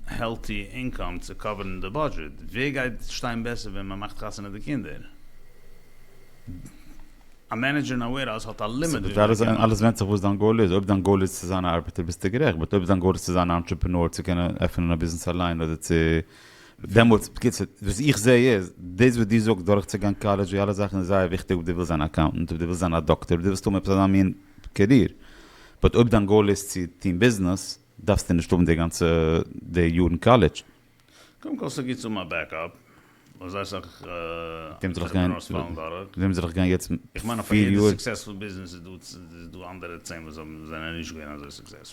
Speaker 2: העלטי אינקאם צו קאווערן די בודזשעט, ווער גייט שטיין בעסער ווען מען מאכט חתונה די קינדער, א מענעדזשער אין א ווערהאוז האט א לימיט וויפיל ער קען מאכן. אלעס ווענדט זיך
Speaker 1: וואס דיין גאול איז, אויב דיין גאול איז צו זיין א ארבעטער ביסטו גערעכט, באט אויב דיין גאול איז צו זיין א אנטרעפענאר צו קענען עפענען א ביזנעס אליין אדער צו דעמאלטס, בקיצור, וואס איך זע איז, דאס וואס דו זאגסט דורכצוגיין קאלעדזש, די אלע זאכן איז זייער וויכטיג אויב דו ווילסט זיין א אקאונטענט, אויב דו ווילסט זיין א דאקטאר, אויב דו ווילסט האבן עפעס אזא מין קעריער. באט אויב דיין גאול איז צו טון ביזנעס, דארפסטו נישט האבן די גאנצע די
Speaker 2: יארן
Speaker 1: קאלעדזש.
Speaker 2: קודם
Speaker 1: כל ס'גוט
Speaker 2: צו האבן א בעקאפ,
Speaker 1: ווייל זייער
Speaker 2: אסאך ענטרעפרענארס
Speaker 1: פאלן
Speaker 2: דורך. וועם זאל איך
Speaker 1: גיין יעצט פיר יאר? איך מיין אז פאר יעדע
Speaker 2: סוקסעספול
Speaker 1: ביזנעס
Speaker 2: איז דא אנדערע צען וואס זענען נישט געווען אזוי סוקסעספול.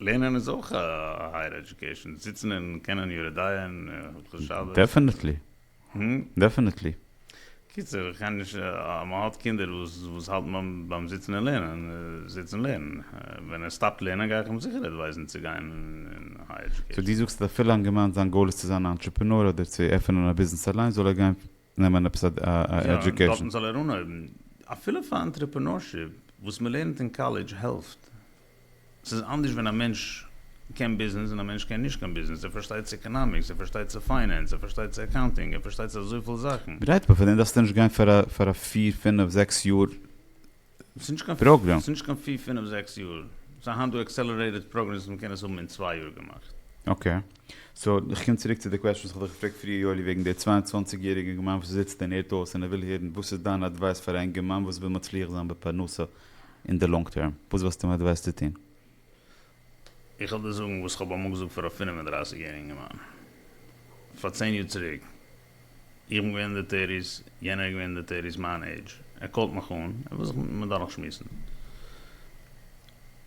Speaker 2: לערנען איז אויך א הייער עדיוקעישאן, זיצן און קענען יורה דיין און
Speaker 1: הלכות שבת. דעפענעטלי. דעפענעטלי. קיצור,
Speaker 2: איך קען נישט, מען האט קינדער וואס האלטן ביים זיצן און לערנען, זיץ און לערן. ווען ער סטאפט לערנען גיי איך אים זיכער עדווייזן צו גיין אין הייער עדיוקעישאן. סאו דו זאגסט אז אפילו אנגעמיינט
Speaker 1: זיין גאול איז צו זיין א אנטרעפענאר אדער צו עפענען א ביזנעס אליינס זאל ער גיין נעמען עפעס א עדיוקעישן. דארטן זאל ער אנהויבן.
Speaker 2: אפילו פאר אנטרעפענארשיפ, וואס מ'לערנט אין קאלעדזש העלפט. ס'איז אנדערש ווען א מענטש קען ביזנעס און א מענטש קען נישט קיין ביזנעס. ער פארשטייט צו עקאנאמיקס, ער פארשטייט צו פיינענס, ער פארשטייט צו אקאונטינג, ער פארשטייט צו אזויפיל זאכן. גרייט, אבער פאר דעם דארפסטו נישט
Speaker 1: גיין פאר א פיר פינף זעקס יאר. פראגרעם. ס'נישט קיין פיר
Speaker 2: פינעף זעקס יאר. ס'איז היינט דא עקסעלערעיטעד פראגרעמס וואס מ'קען עס האבן אין צוויי יאר געמאכט. אקעי.
Speaker 1: סאו איך קום צוריק צו די קוועסטשן וואס כ'האב דיך געפרעגט פריער יואלי וועגן די צוויי און צוואַנציק יעריגע אינגערמאן וואס זיצט און הערט אויס און ער וויל הערן וואס איז דיין אדווייס פאר א אינגערמאן וואס וויל מצליח זיין בפרנסה אין די לאנג טערם. וואס וואלסטו אים אדווייסט צו טון?
Speaker 2: איך וועל דיר זאגן וואס כ'האב אמאל געזאגט פאר א פֿינף און דרײַסיק יעריגן אינגערמאן, פאר צען יאר צוריק, איך בין געווען אין די טערטיס, יענער איז געווען אין די טערטיס, מיין עידזש, ער קאלט מיך אן, ער וויל זיך מיט מיר דורך שמועסן,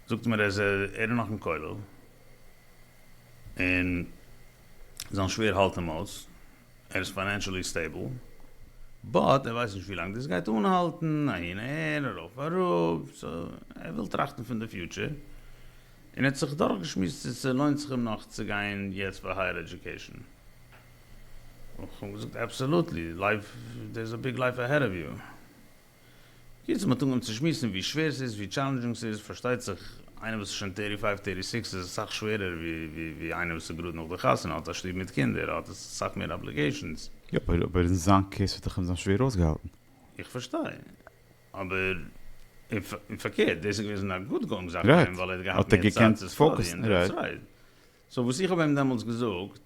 Speaker 2: זאגט מיר אז ער איז נאך אין כולל, און זיין שווער האלט אים אויס. ער איז פיינענשעלי סטעיבל באט ער ווייסט נישט ווי לאנג דאס גייט אנהאלטן, אהין אהער ארויף אראפ, סאו ער וויל טראכטן פון די פיוטשער, און ער האט זיך דורכגעשמועסט צו ס'לוינט זיך אים נאך צו גיין יעצט פאר הייער עדיוקעישן, און כ'האב אים געזאגט אבסעלוטלי, לייף, דעירס א ביג לייף אהעד אוו יו. בקיצור מ'האט אנגעהויבן צו שמועסן ווי שווער ס'איז ווי טשאלענדזשינג ס'איז, פארשטייט זיך איינער וואס איז שוין טערטי פייוו טערטי סיקס איז עס סאך שווערער ווי איינער וואס איז גראד נאך די חתונה האט א שטוב מיט קינדער האט עס סאך מער אבליגעישאנס. יאפ אבער אין
Speaker 1: זיין קעיס האט דאך אים זיין שווער אויסגעהאלטן. איך פארשטיי.
Speaker 2: אבער און פארקערט דאס איז געוועזן א גוד גאונג זאך פאר אים ווייל ער האט געהאט מער
Speaker 1: צייט
Speaker 2: צו סטאדיען דעטס רייט. סאו וואס איך האב אים דעמאלטס געזאגט,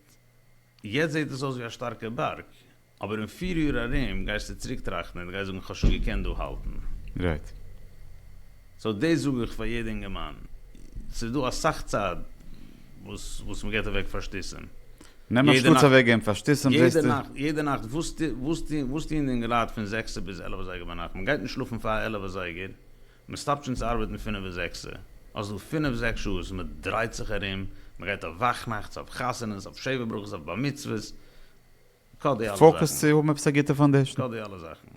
Speaker 2: יעצט זעהט עס אויס ווי א שטארקע בארג, אבער אין פיר יאר ארום גייסטו צוריק טראכטן און גייסט זאגן איך האב שוין געקענט דא האלטן. רייט. סאו דאס זאג איך פאר יעדע אינגערמאן, ס'איז דא אסאך צייט וואס וואס מען געט אוועק פאר שטותים. נעם אנשטאטס יעדע נאכט
Speaker 1: אוועק געבן פאר שטותים יעדע זעסטו. נאכט יעדע נאכט
Speaker 2: וואס טו וואס טוהן וואס טוהן די אינגעלייט פון זעקסע ביז עלעווע זייגער ביינאכט? מען גייט נישט שלאפן פאר עלעווע זייגער, מ'סטאפט שוין צו ארבעטן פינף ביז זעקסע, האסט דא פינף זעקס שעה וואס מ'דרייט זיך ארום, מ'גייט אויף וואכנאכטס, אויף חתונות, אויף שבע ברכות, אויף בר מצוות, כא די
Speaker 1: אלע פאוקעס זאכן. צו האבן עפעס א גוטע פאנדעישן. כא די אלע זאכן.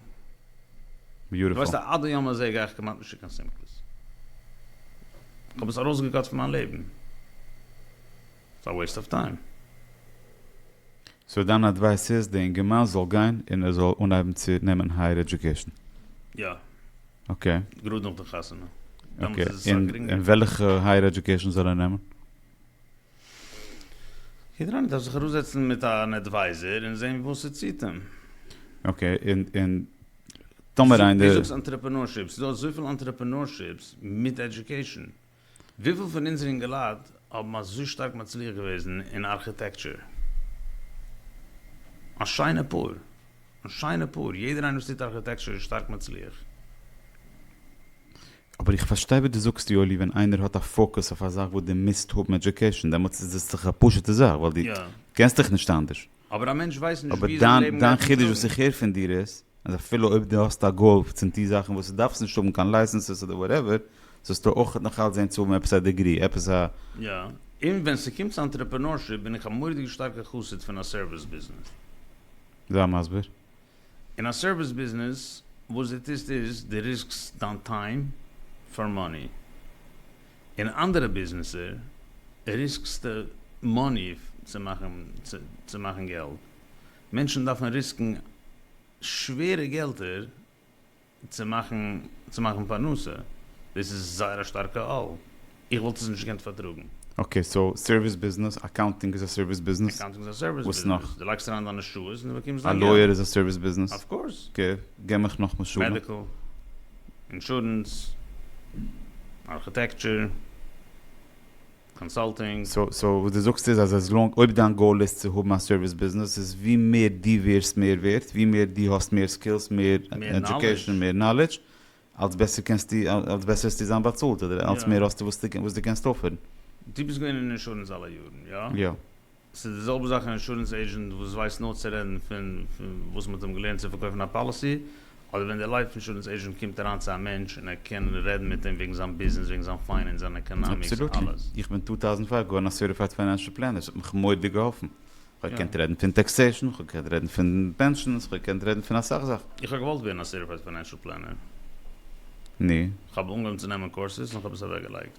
Speaker 1: ביוטיפול. ווייסט אז עד היום
Speaker 2: הזה גיי איך כמעט נישט צו קיין שמחות. כ'האב עס ארויסגעקאט פון מיין לעבן. ס'איז א וועיסט אוו טיים.
Speaker 1: סאו דיין אדווייס איז די אינגערמאן זאל גיין און ער זאל אנהייבן צו נעמען הייער עדיוקעישן? יא.
Speaker 2: אקעי.
Speaker 1: גראד נאך די חתונה. דעמאלטס איז עס
Speaker 2: אסאך
Speaker 1: גרינגער. און וועלכע הייער עדיוקעישן זאל ער נעמען?
Speaker 2: יעדער איינער דארף זיך אראפזעצן מיט אן עדווייזער און זען וואס ס'ציט אים. אקעי,
Speaker 1: און טאמער איינער. דו זאגסט
Speaker 2: אנטרעפענארשיפ, ס'איז דא אזויפיל אנטרעפענארשיפס מיט עדיוקעישן. וויפיל פון אונזער אינגעלייט האבן אזוי שטארק מצליח געוועזן אין ארכיטעקטשור? א שיינע פאר. א שיינע פאר. יעדער איינער וואס טוט ארכיטעקטשור איז שטארק מצליח.
Speaker 1: אבער איך פארשטיי וואס דו זאגסט יואלי, ווען איינער האט א פאוקוס אויף א זאך וואס דו מוזט האבן עדיוקעישן דעמאלטס איז עס דאך א פשוטע זאך ווייל דו קענסט דיך נישט אנדערש. אבער א מענטש ווייסט נישט
Speaker 2: ווי זיין לעבן גייט אים טראגן. אבער דיין
Speaker 1: חידוש
Speaker 2: וואס איך הער פון
Speaker 1: דיר איז, אז אפילו אויב דו האסט א גאוו צום טוהן זאכן וואס דו דארפסט נישט האבן קיין לייסענסעס אדער וואטעווער, זאלסטו אויך נאך אלץ זעהן צו האבן עפעס א דעגרי, עפעס א. יא, און
Speaker 2: ווען ס'קומט צו אנטרעפענארשיפ בין איך א מורא'דיגע שטארקע חסיד פון א סערוויס ביזנעס. זיי
Speaker 1: מסביר. אין א
Speaker 2: סערוויס ביזנעס וואס דו טוסט איז, דו ריסקסט דיין טיים פאר מאני. אין אנדערע ביזנעסער ריסקסטע מאני צו מאכן צו מאכן געלט, מענטשן דארפן ריסקן שווערע געלטער צו מאכן צו מאכן פרנסה, דאס איז זייער א שטארקע עול, איך וואלט עס נישט געקענט פארטראגן. אקעי, סאו
Speaker 1: סערוויס ביזנעס, אקאונטינג איז א סערוויס ביזנעס? אקאונטינג איז א סערוויס ביזנעס. וואס נאך?
Speaker 2: דו לייגסט אריין
Speaker 1: דיינע
Speaker 2: שעות און דו באקומסט
Speaker 1: דיין געלט.
Speaker 2: א לויער איז
Speaker 1: א סערוויס
Speaker 2: ביזנעס?
Speaker 1: אויף
Speaker 2: קאורס. געב מיך
Speaker 1: נאך
Speaker 2: משלים. מעדיקל. אינשורענס, ארכיטעקטשור, קאנסאלטינג. סאו וואס דו זאגסט
Speaker 1: איז אז עז לאנג אויב דיין גאול איז צו האבן א סערוויס ביזנעס איז ווי מער דו ווערסט מער ווערט, ווי מער דו האסט מער סקילס, מער עדיוקעישן, מער נאלעדזש, אלס בעסער קענסטו, אלס בעסער וועסטו זיין באצאלט אדער אלס מער האסטו וואס דו קענסט אויפערן. דו ביסט געווען אין
Speaker 2: אינשורענס אלע יארן, יא? יא. ס'איז די
Speaker 1: זעלבע
Speaker 2: זאך א אינשורענס עיזשענט וואס ווייסט נאר צו רעדן פון וואס מ'האט אים געלערנט צו פארקויפן א פאליסי, אדער ווען דער לייף אינשורענס עיזשענט קומט אריין צו א מענטש און ער קען רעדן מיט אים וועגן זיין ביזנעס, וועגן זיין פיינענס, זיין עקאנאמיקס, אבסאלוטלי, אלעס. איך בין טו טאוזענד פייוו
Speaker 1: געווארן א סערטיפייד פיינענשעל פלענער, ס'האט מיך מורא'דיג געהאלפן, כ'האב געקענט רעדן פון טעקסעישן, כ'האב געקענט רעדן פון פענשאנס, כ'האב געקענט רעדן פון אסאך זאכן. איך האב געוואלט ווערן א
Speaker 2: סערטיפייד פיינענשעל פלענער.
Speaker 1: נו? כ'האב אנגעהויבן צו
Speaker 2: נעמען קורסעס און כ'האב עס אוועקגעלייגט.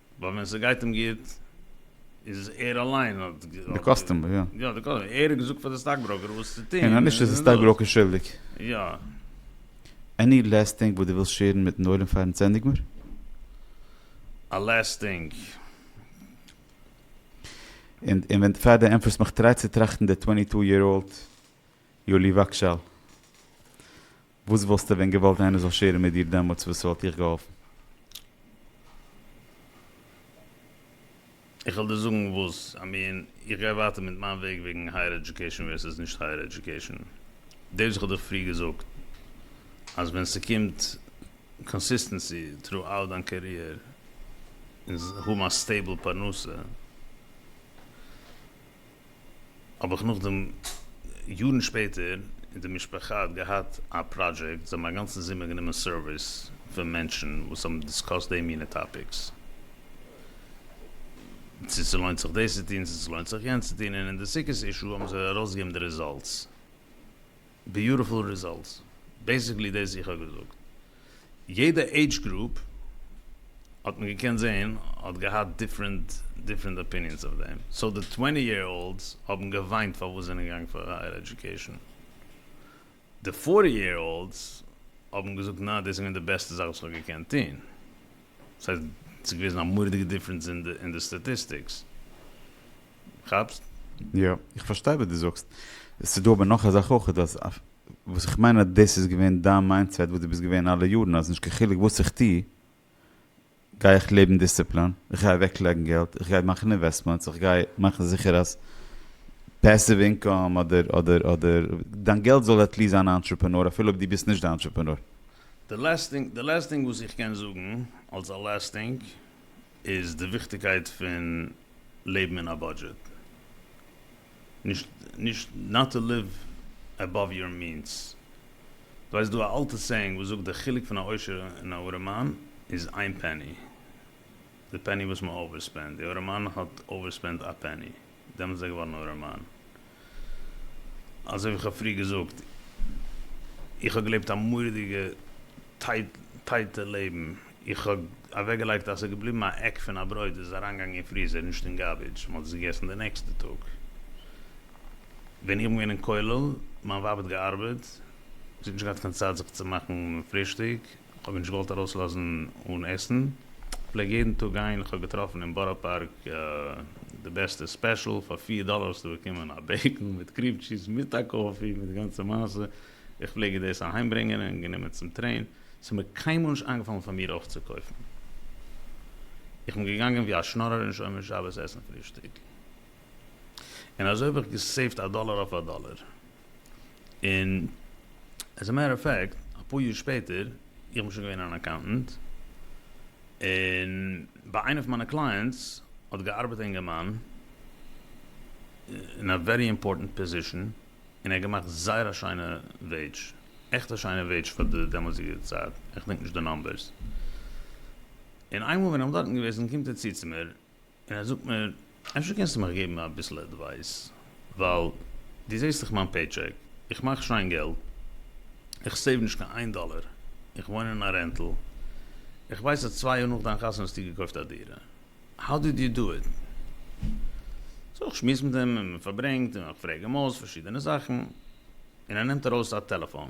Speaker 2: ווייל ווען ס'גייט אים גוט איז ער אליין האט די קאסטומער
Speaker 1: יא. יא די קאסטומער, ער האט געזאגט
Speaker 2: פאר די סטאק בראוקער וואס צו טוהן. און נישט איז די סטאק בראוקער
Speaker 1: שולדיג.
Speaker 2: יא.
Speaker 1: עני לעסט טינג וואס דו ווילסט שעירן מיטן עולם פארן צענדיג מיר?
Speaker 2: א לעסט טינג. און
Speaker 1: און ווען פאר די ענפערסט מיך טריי צו טראכטן די טווענטי טו יער אולד יואלי וואגשאל. וואס וואלסטו ווען געוואלט איינער זאל שעירן מיט דיר דעמאלטס וואס ס'וואלט דיך געהאלפן?
Speaker 2: איך וועל דיר זאגן וואס איי מין, איך גיי ווייטער מיט מיין וועג וועגן הייער עדיוקעישן ווערסעס נישט הייער עדיוקעישן, דאס וואס כ'האב דיך פריער געזאגט אז ווען ס'קומט קאנסיסטענסי טרו אוט דיין קעריער און האבן א סטעיבל פרנסה, האב איך נאכדעם יארן שפעטער און די משפחה האט געהאט א פראדזשעקט זיי האבן אגאנצן זומער גענומען סערוויס פון מענטשן וואס האבן דיסקאסט די מינע טאפיקס צו ס'לוינט זיך דאס צו טון צו ס'לוינט זיך יענץ צו טון און אין די סוכות אישו האבן זיי ארויסגעגעבן די רעזאלטס. ביוטיפול רעזאלטס, בעיסיקלי דאס איך האב געזאגט, יעדע עידזש גרופ האט מען געקענט זעהן האט געהאט דיפרענט דיפרענט אפיניענס אויף דעם, סאו די טווענטי יער אולדס האבן געוויינט פארוואס זענען געגאנגען פאר הייער עדיוקעישן, די פארטי יער אולדס האבן געזאגט נעה דאס איז געווען די בעסטע זאך וואס איך האב געקענט טוהן, סאיז געוועזן א מוראדיגע דיפרענס אין די סטאטיסטיקס. כאפסט? יא,
Speaker 1: איך פארשטיי וואס דו זאגסט. עס איז דא אבער נאך א זאך אויך, אז וואס איך מיין אז דאס איז געווען דיין מיינדסעט וואס דו ביסט געווען אלע יארן, אז נישט קיין חילוק וואס איך טו, גיי איך לעבן דיסציפלאן, איך גיי אוועקלייגן געלט, איך גיי מאכן אינוועסטמענטס, איך גיי מאכן זיכער אז פעסיוו אינקאם אדער אדער אדער דיין געלט זאל עט ליעסט זיין א אנטרעפענאר אפילו אויב דו ביסט נישט די אנטרעפענאר.
Speaker 2: די לעסט טינג וואס איך קען זאגן אלס א לעסט טינג איז די וויכטיגקייט פון לעבן אין א בודזשעט, נישט נישט נאט טו ליוו עבאוו יור מינס, דו ווייסט דא א אלטע סעיאינג וואס זאגט די חילוק פון א עושר און א ארעמאן איז איין פעני, די פעני וואס מען אווערספענד, די ארעמאן האט אווערספענד א פעני. דעמאלט איז ער געווארן ארעמאן. אזוי ווי כ'האב פריער געזאגט, איך האב געלעבט א מורא'דיגע טייטע לעבן, איך האב אוועקגעלייגט אז ס'איז געבליבן א עק פון א ברויט, איז עס אריינגעגאנגען אין פריזער, נישט אין גארבידזש, מ'האט עס געגעסן די נעקסטע טאג. ווען איך בין געווען אין כולל, מיין ווייב האט געארבעט, זי האט נישט געהאט קיין צייט זיך צו מאכן פרישטאג, כ'האב מיר נישט געוואלט ארויסלאזן אן עסן, כ'פלעג יעדן טאג גיין, כ'האב געטראפן אין בארא פארק די בעסטע ספעשל, פאר פֿיר דאללער האסטו באקומען א בעיגל מיט קריעם טשיז מיט א קאפי מיט די גאנצע מעשה, איך פלעג איר דאס אהיים ברענגען און גענומען צום טרעין, ס'איז מיר קיינמאל נישט איינגעפאלן פאר מיר אויפצוקויפן, איך בין געגאנגען ווי א שנארער אין שומר שבת עסן פרישטאג, און אזוי האב איך געסעיווט א דאללער אויף א דאללער. און עז א מעטער אוו פעקט, אפאר יאר שפעטער, איך בין שוין געווען אן אקאונטענט, און ביי איינע פון מיינע קלייענטס האט געארבעט א אינגערמאן, אין א ווערי אימפארטענט פאזישאן, און ער האט געמאכט זייער א שיינע וועידזש, עכט א שיינע וועידזש פאר די דעמאלטסדיגע צייט, איך דענק נישט די נומבערס. און איינמאל ווען איך בין דארטן געוועזן קומט ער צו צו מיר, און ער זאגט מיר אפשר קענסטו מיך געבן אביסל עדווייס, ווייל דו זעסט דאך מיין פעיטשעק, איך מאך שיין געלט, איך סעיוו נישט קיין איין דאלער, איך וואוין אין א רענטל, איך ווייס אז צוויי יאר נאך דיין חתונה האסטו געקויפט א דירה, האו דיד יו דא איט? סאו איך שמועס מיט אים און מען פארברענגט און איך פרעג אים אויס פארשידענע זאכן, און ער נעמט ארויס א טעלעפאן.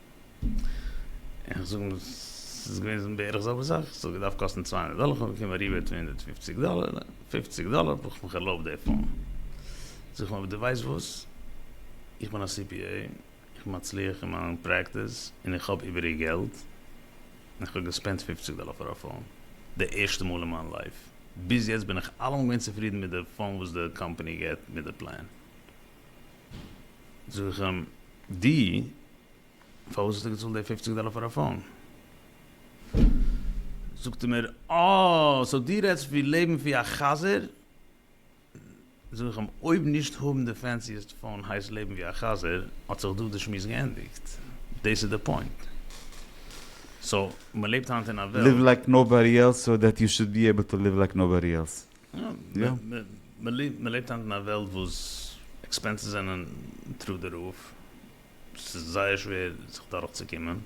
Speaker 2: איך זאג אים ס'איז געוועזן בערך זעלבע זאך, איך זאג געדארפט קאסטן צוויי הונדערט דאלער, כ'האב באקומען א ריבעיט פון הונדערט פופציג דאלער, פופציג דאלער ברויך מיך ערלויבט די פאון. זאג איך אים אבער דו ווייסט וואס? איך בין א CPA, איך בין מצליח אין מיין פרעקטיס, און איך האב איבעריג געלט, און איך האב געספענדט פופציג דאלער פאר א פאון, די ערשטע מאל אין מיין לייף. ביז יעצט בין איך אלעמאל געווען צופרידן מיט די פאון וואס די קאמפאני געבט מיט די פלען. זאג איך אים, דו, פארוואס האסטו געצאלט די פופציג דאלער פאר א פאון? זאגט ער מיר, אה, סאו דו רעדסט ווי לעבן ווי א חזיר? זאג איך אים, אויב נישט האבן די פענסיעסט פאון הייסט לעבן ווי א חזיר, האט זיך דא די שמועס געענדיגט. דאס איז די פוינט. סאו, מ'לעבט היינט אין א וועלט. ליוו לייק נאובאדי
Speaker 1: עלס סאו דעט יו שוד בי עיבל טו ליוו לייק נאובאדי עלס.
Speaker 2: מען לעבט היינט אין א וועלט וואס עקספענסעס זענען טרו די רוף, ס'איז זייער שווער זיך דורך צו קומען, און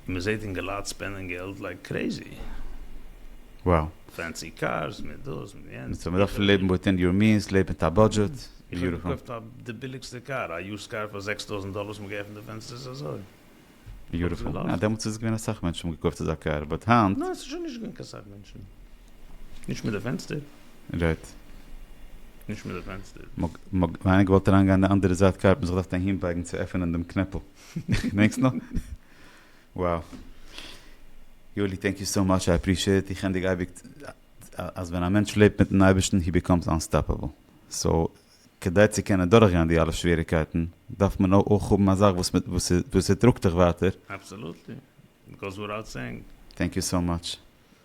Speaker 2: מען זעט אינגעלייט ספענדען געלט לייק קרעזי,
Speaker 1: פענסי
Speaker 2: קארס, מיט דאס מיט יענץ, קיצור מ'דארף לעבן וויטין
Speaker 1: יור מיענס, לעב מיט א בודזשעט, איך האב
Speaker 2: געקויפט די ביליגסטע קאר, א יוזד קאר פאר זעקס טויזענט דאלער, האסט מיר געעפנט די פענסטער, ס'איז אזוי. ביוטיפול,
Speaker 1: יא דעמאלטס איז געווען אסאך מענטשן האבן געקויפט אזא קאר, באט היינט. ניין ס'איז שוין נישט
Speaker 2: געווען קיין סאך מענטשן, נישט מיט די פענסטער. רייט.
Speaker 1: נישט מיט די
Speaker 2: פענסטער. מ'האט ווייניג געוואלט
Speaker 1: אריינגיין די אנדערע זייט קאר, האט מען זיך געדארפט אהינבייגן צו עפענען דעם קנעפל, געדענקסט נאך? wow. יואלי טענק יו סאו מאטש איי עפרישיעט, איך ענדיג אייביג אז ווען א מענטש לעבט מיטן אייבערשטן הי ביקאמס אנסטאפעבל, סאו כדי צו קענען דורכגיין די אלע שוועריגקייטן דארף מען אויך האבן א זאך וואס ס'טראגט דיך ווייטער. אבסעלוטלי,
Speaker 2: גאוס וויטאוט סעינג. טענק יו סאו מאטש,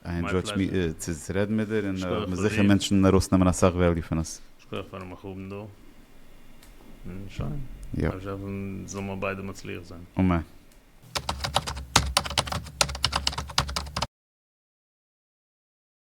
Speaker 1: איי אינדזשויט צו רעדן מיט דיר, און איך בין זיכער מענטשן
Speaker 2: ארויסנעמען
Speaker 1: אסאך וועליו פון עס. שכוח
Speaker 2: פארן מיך האבן דא, און שוין, לאמיר האפן זאלן מיר ביידע מצליח זיין. אמן.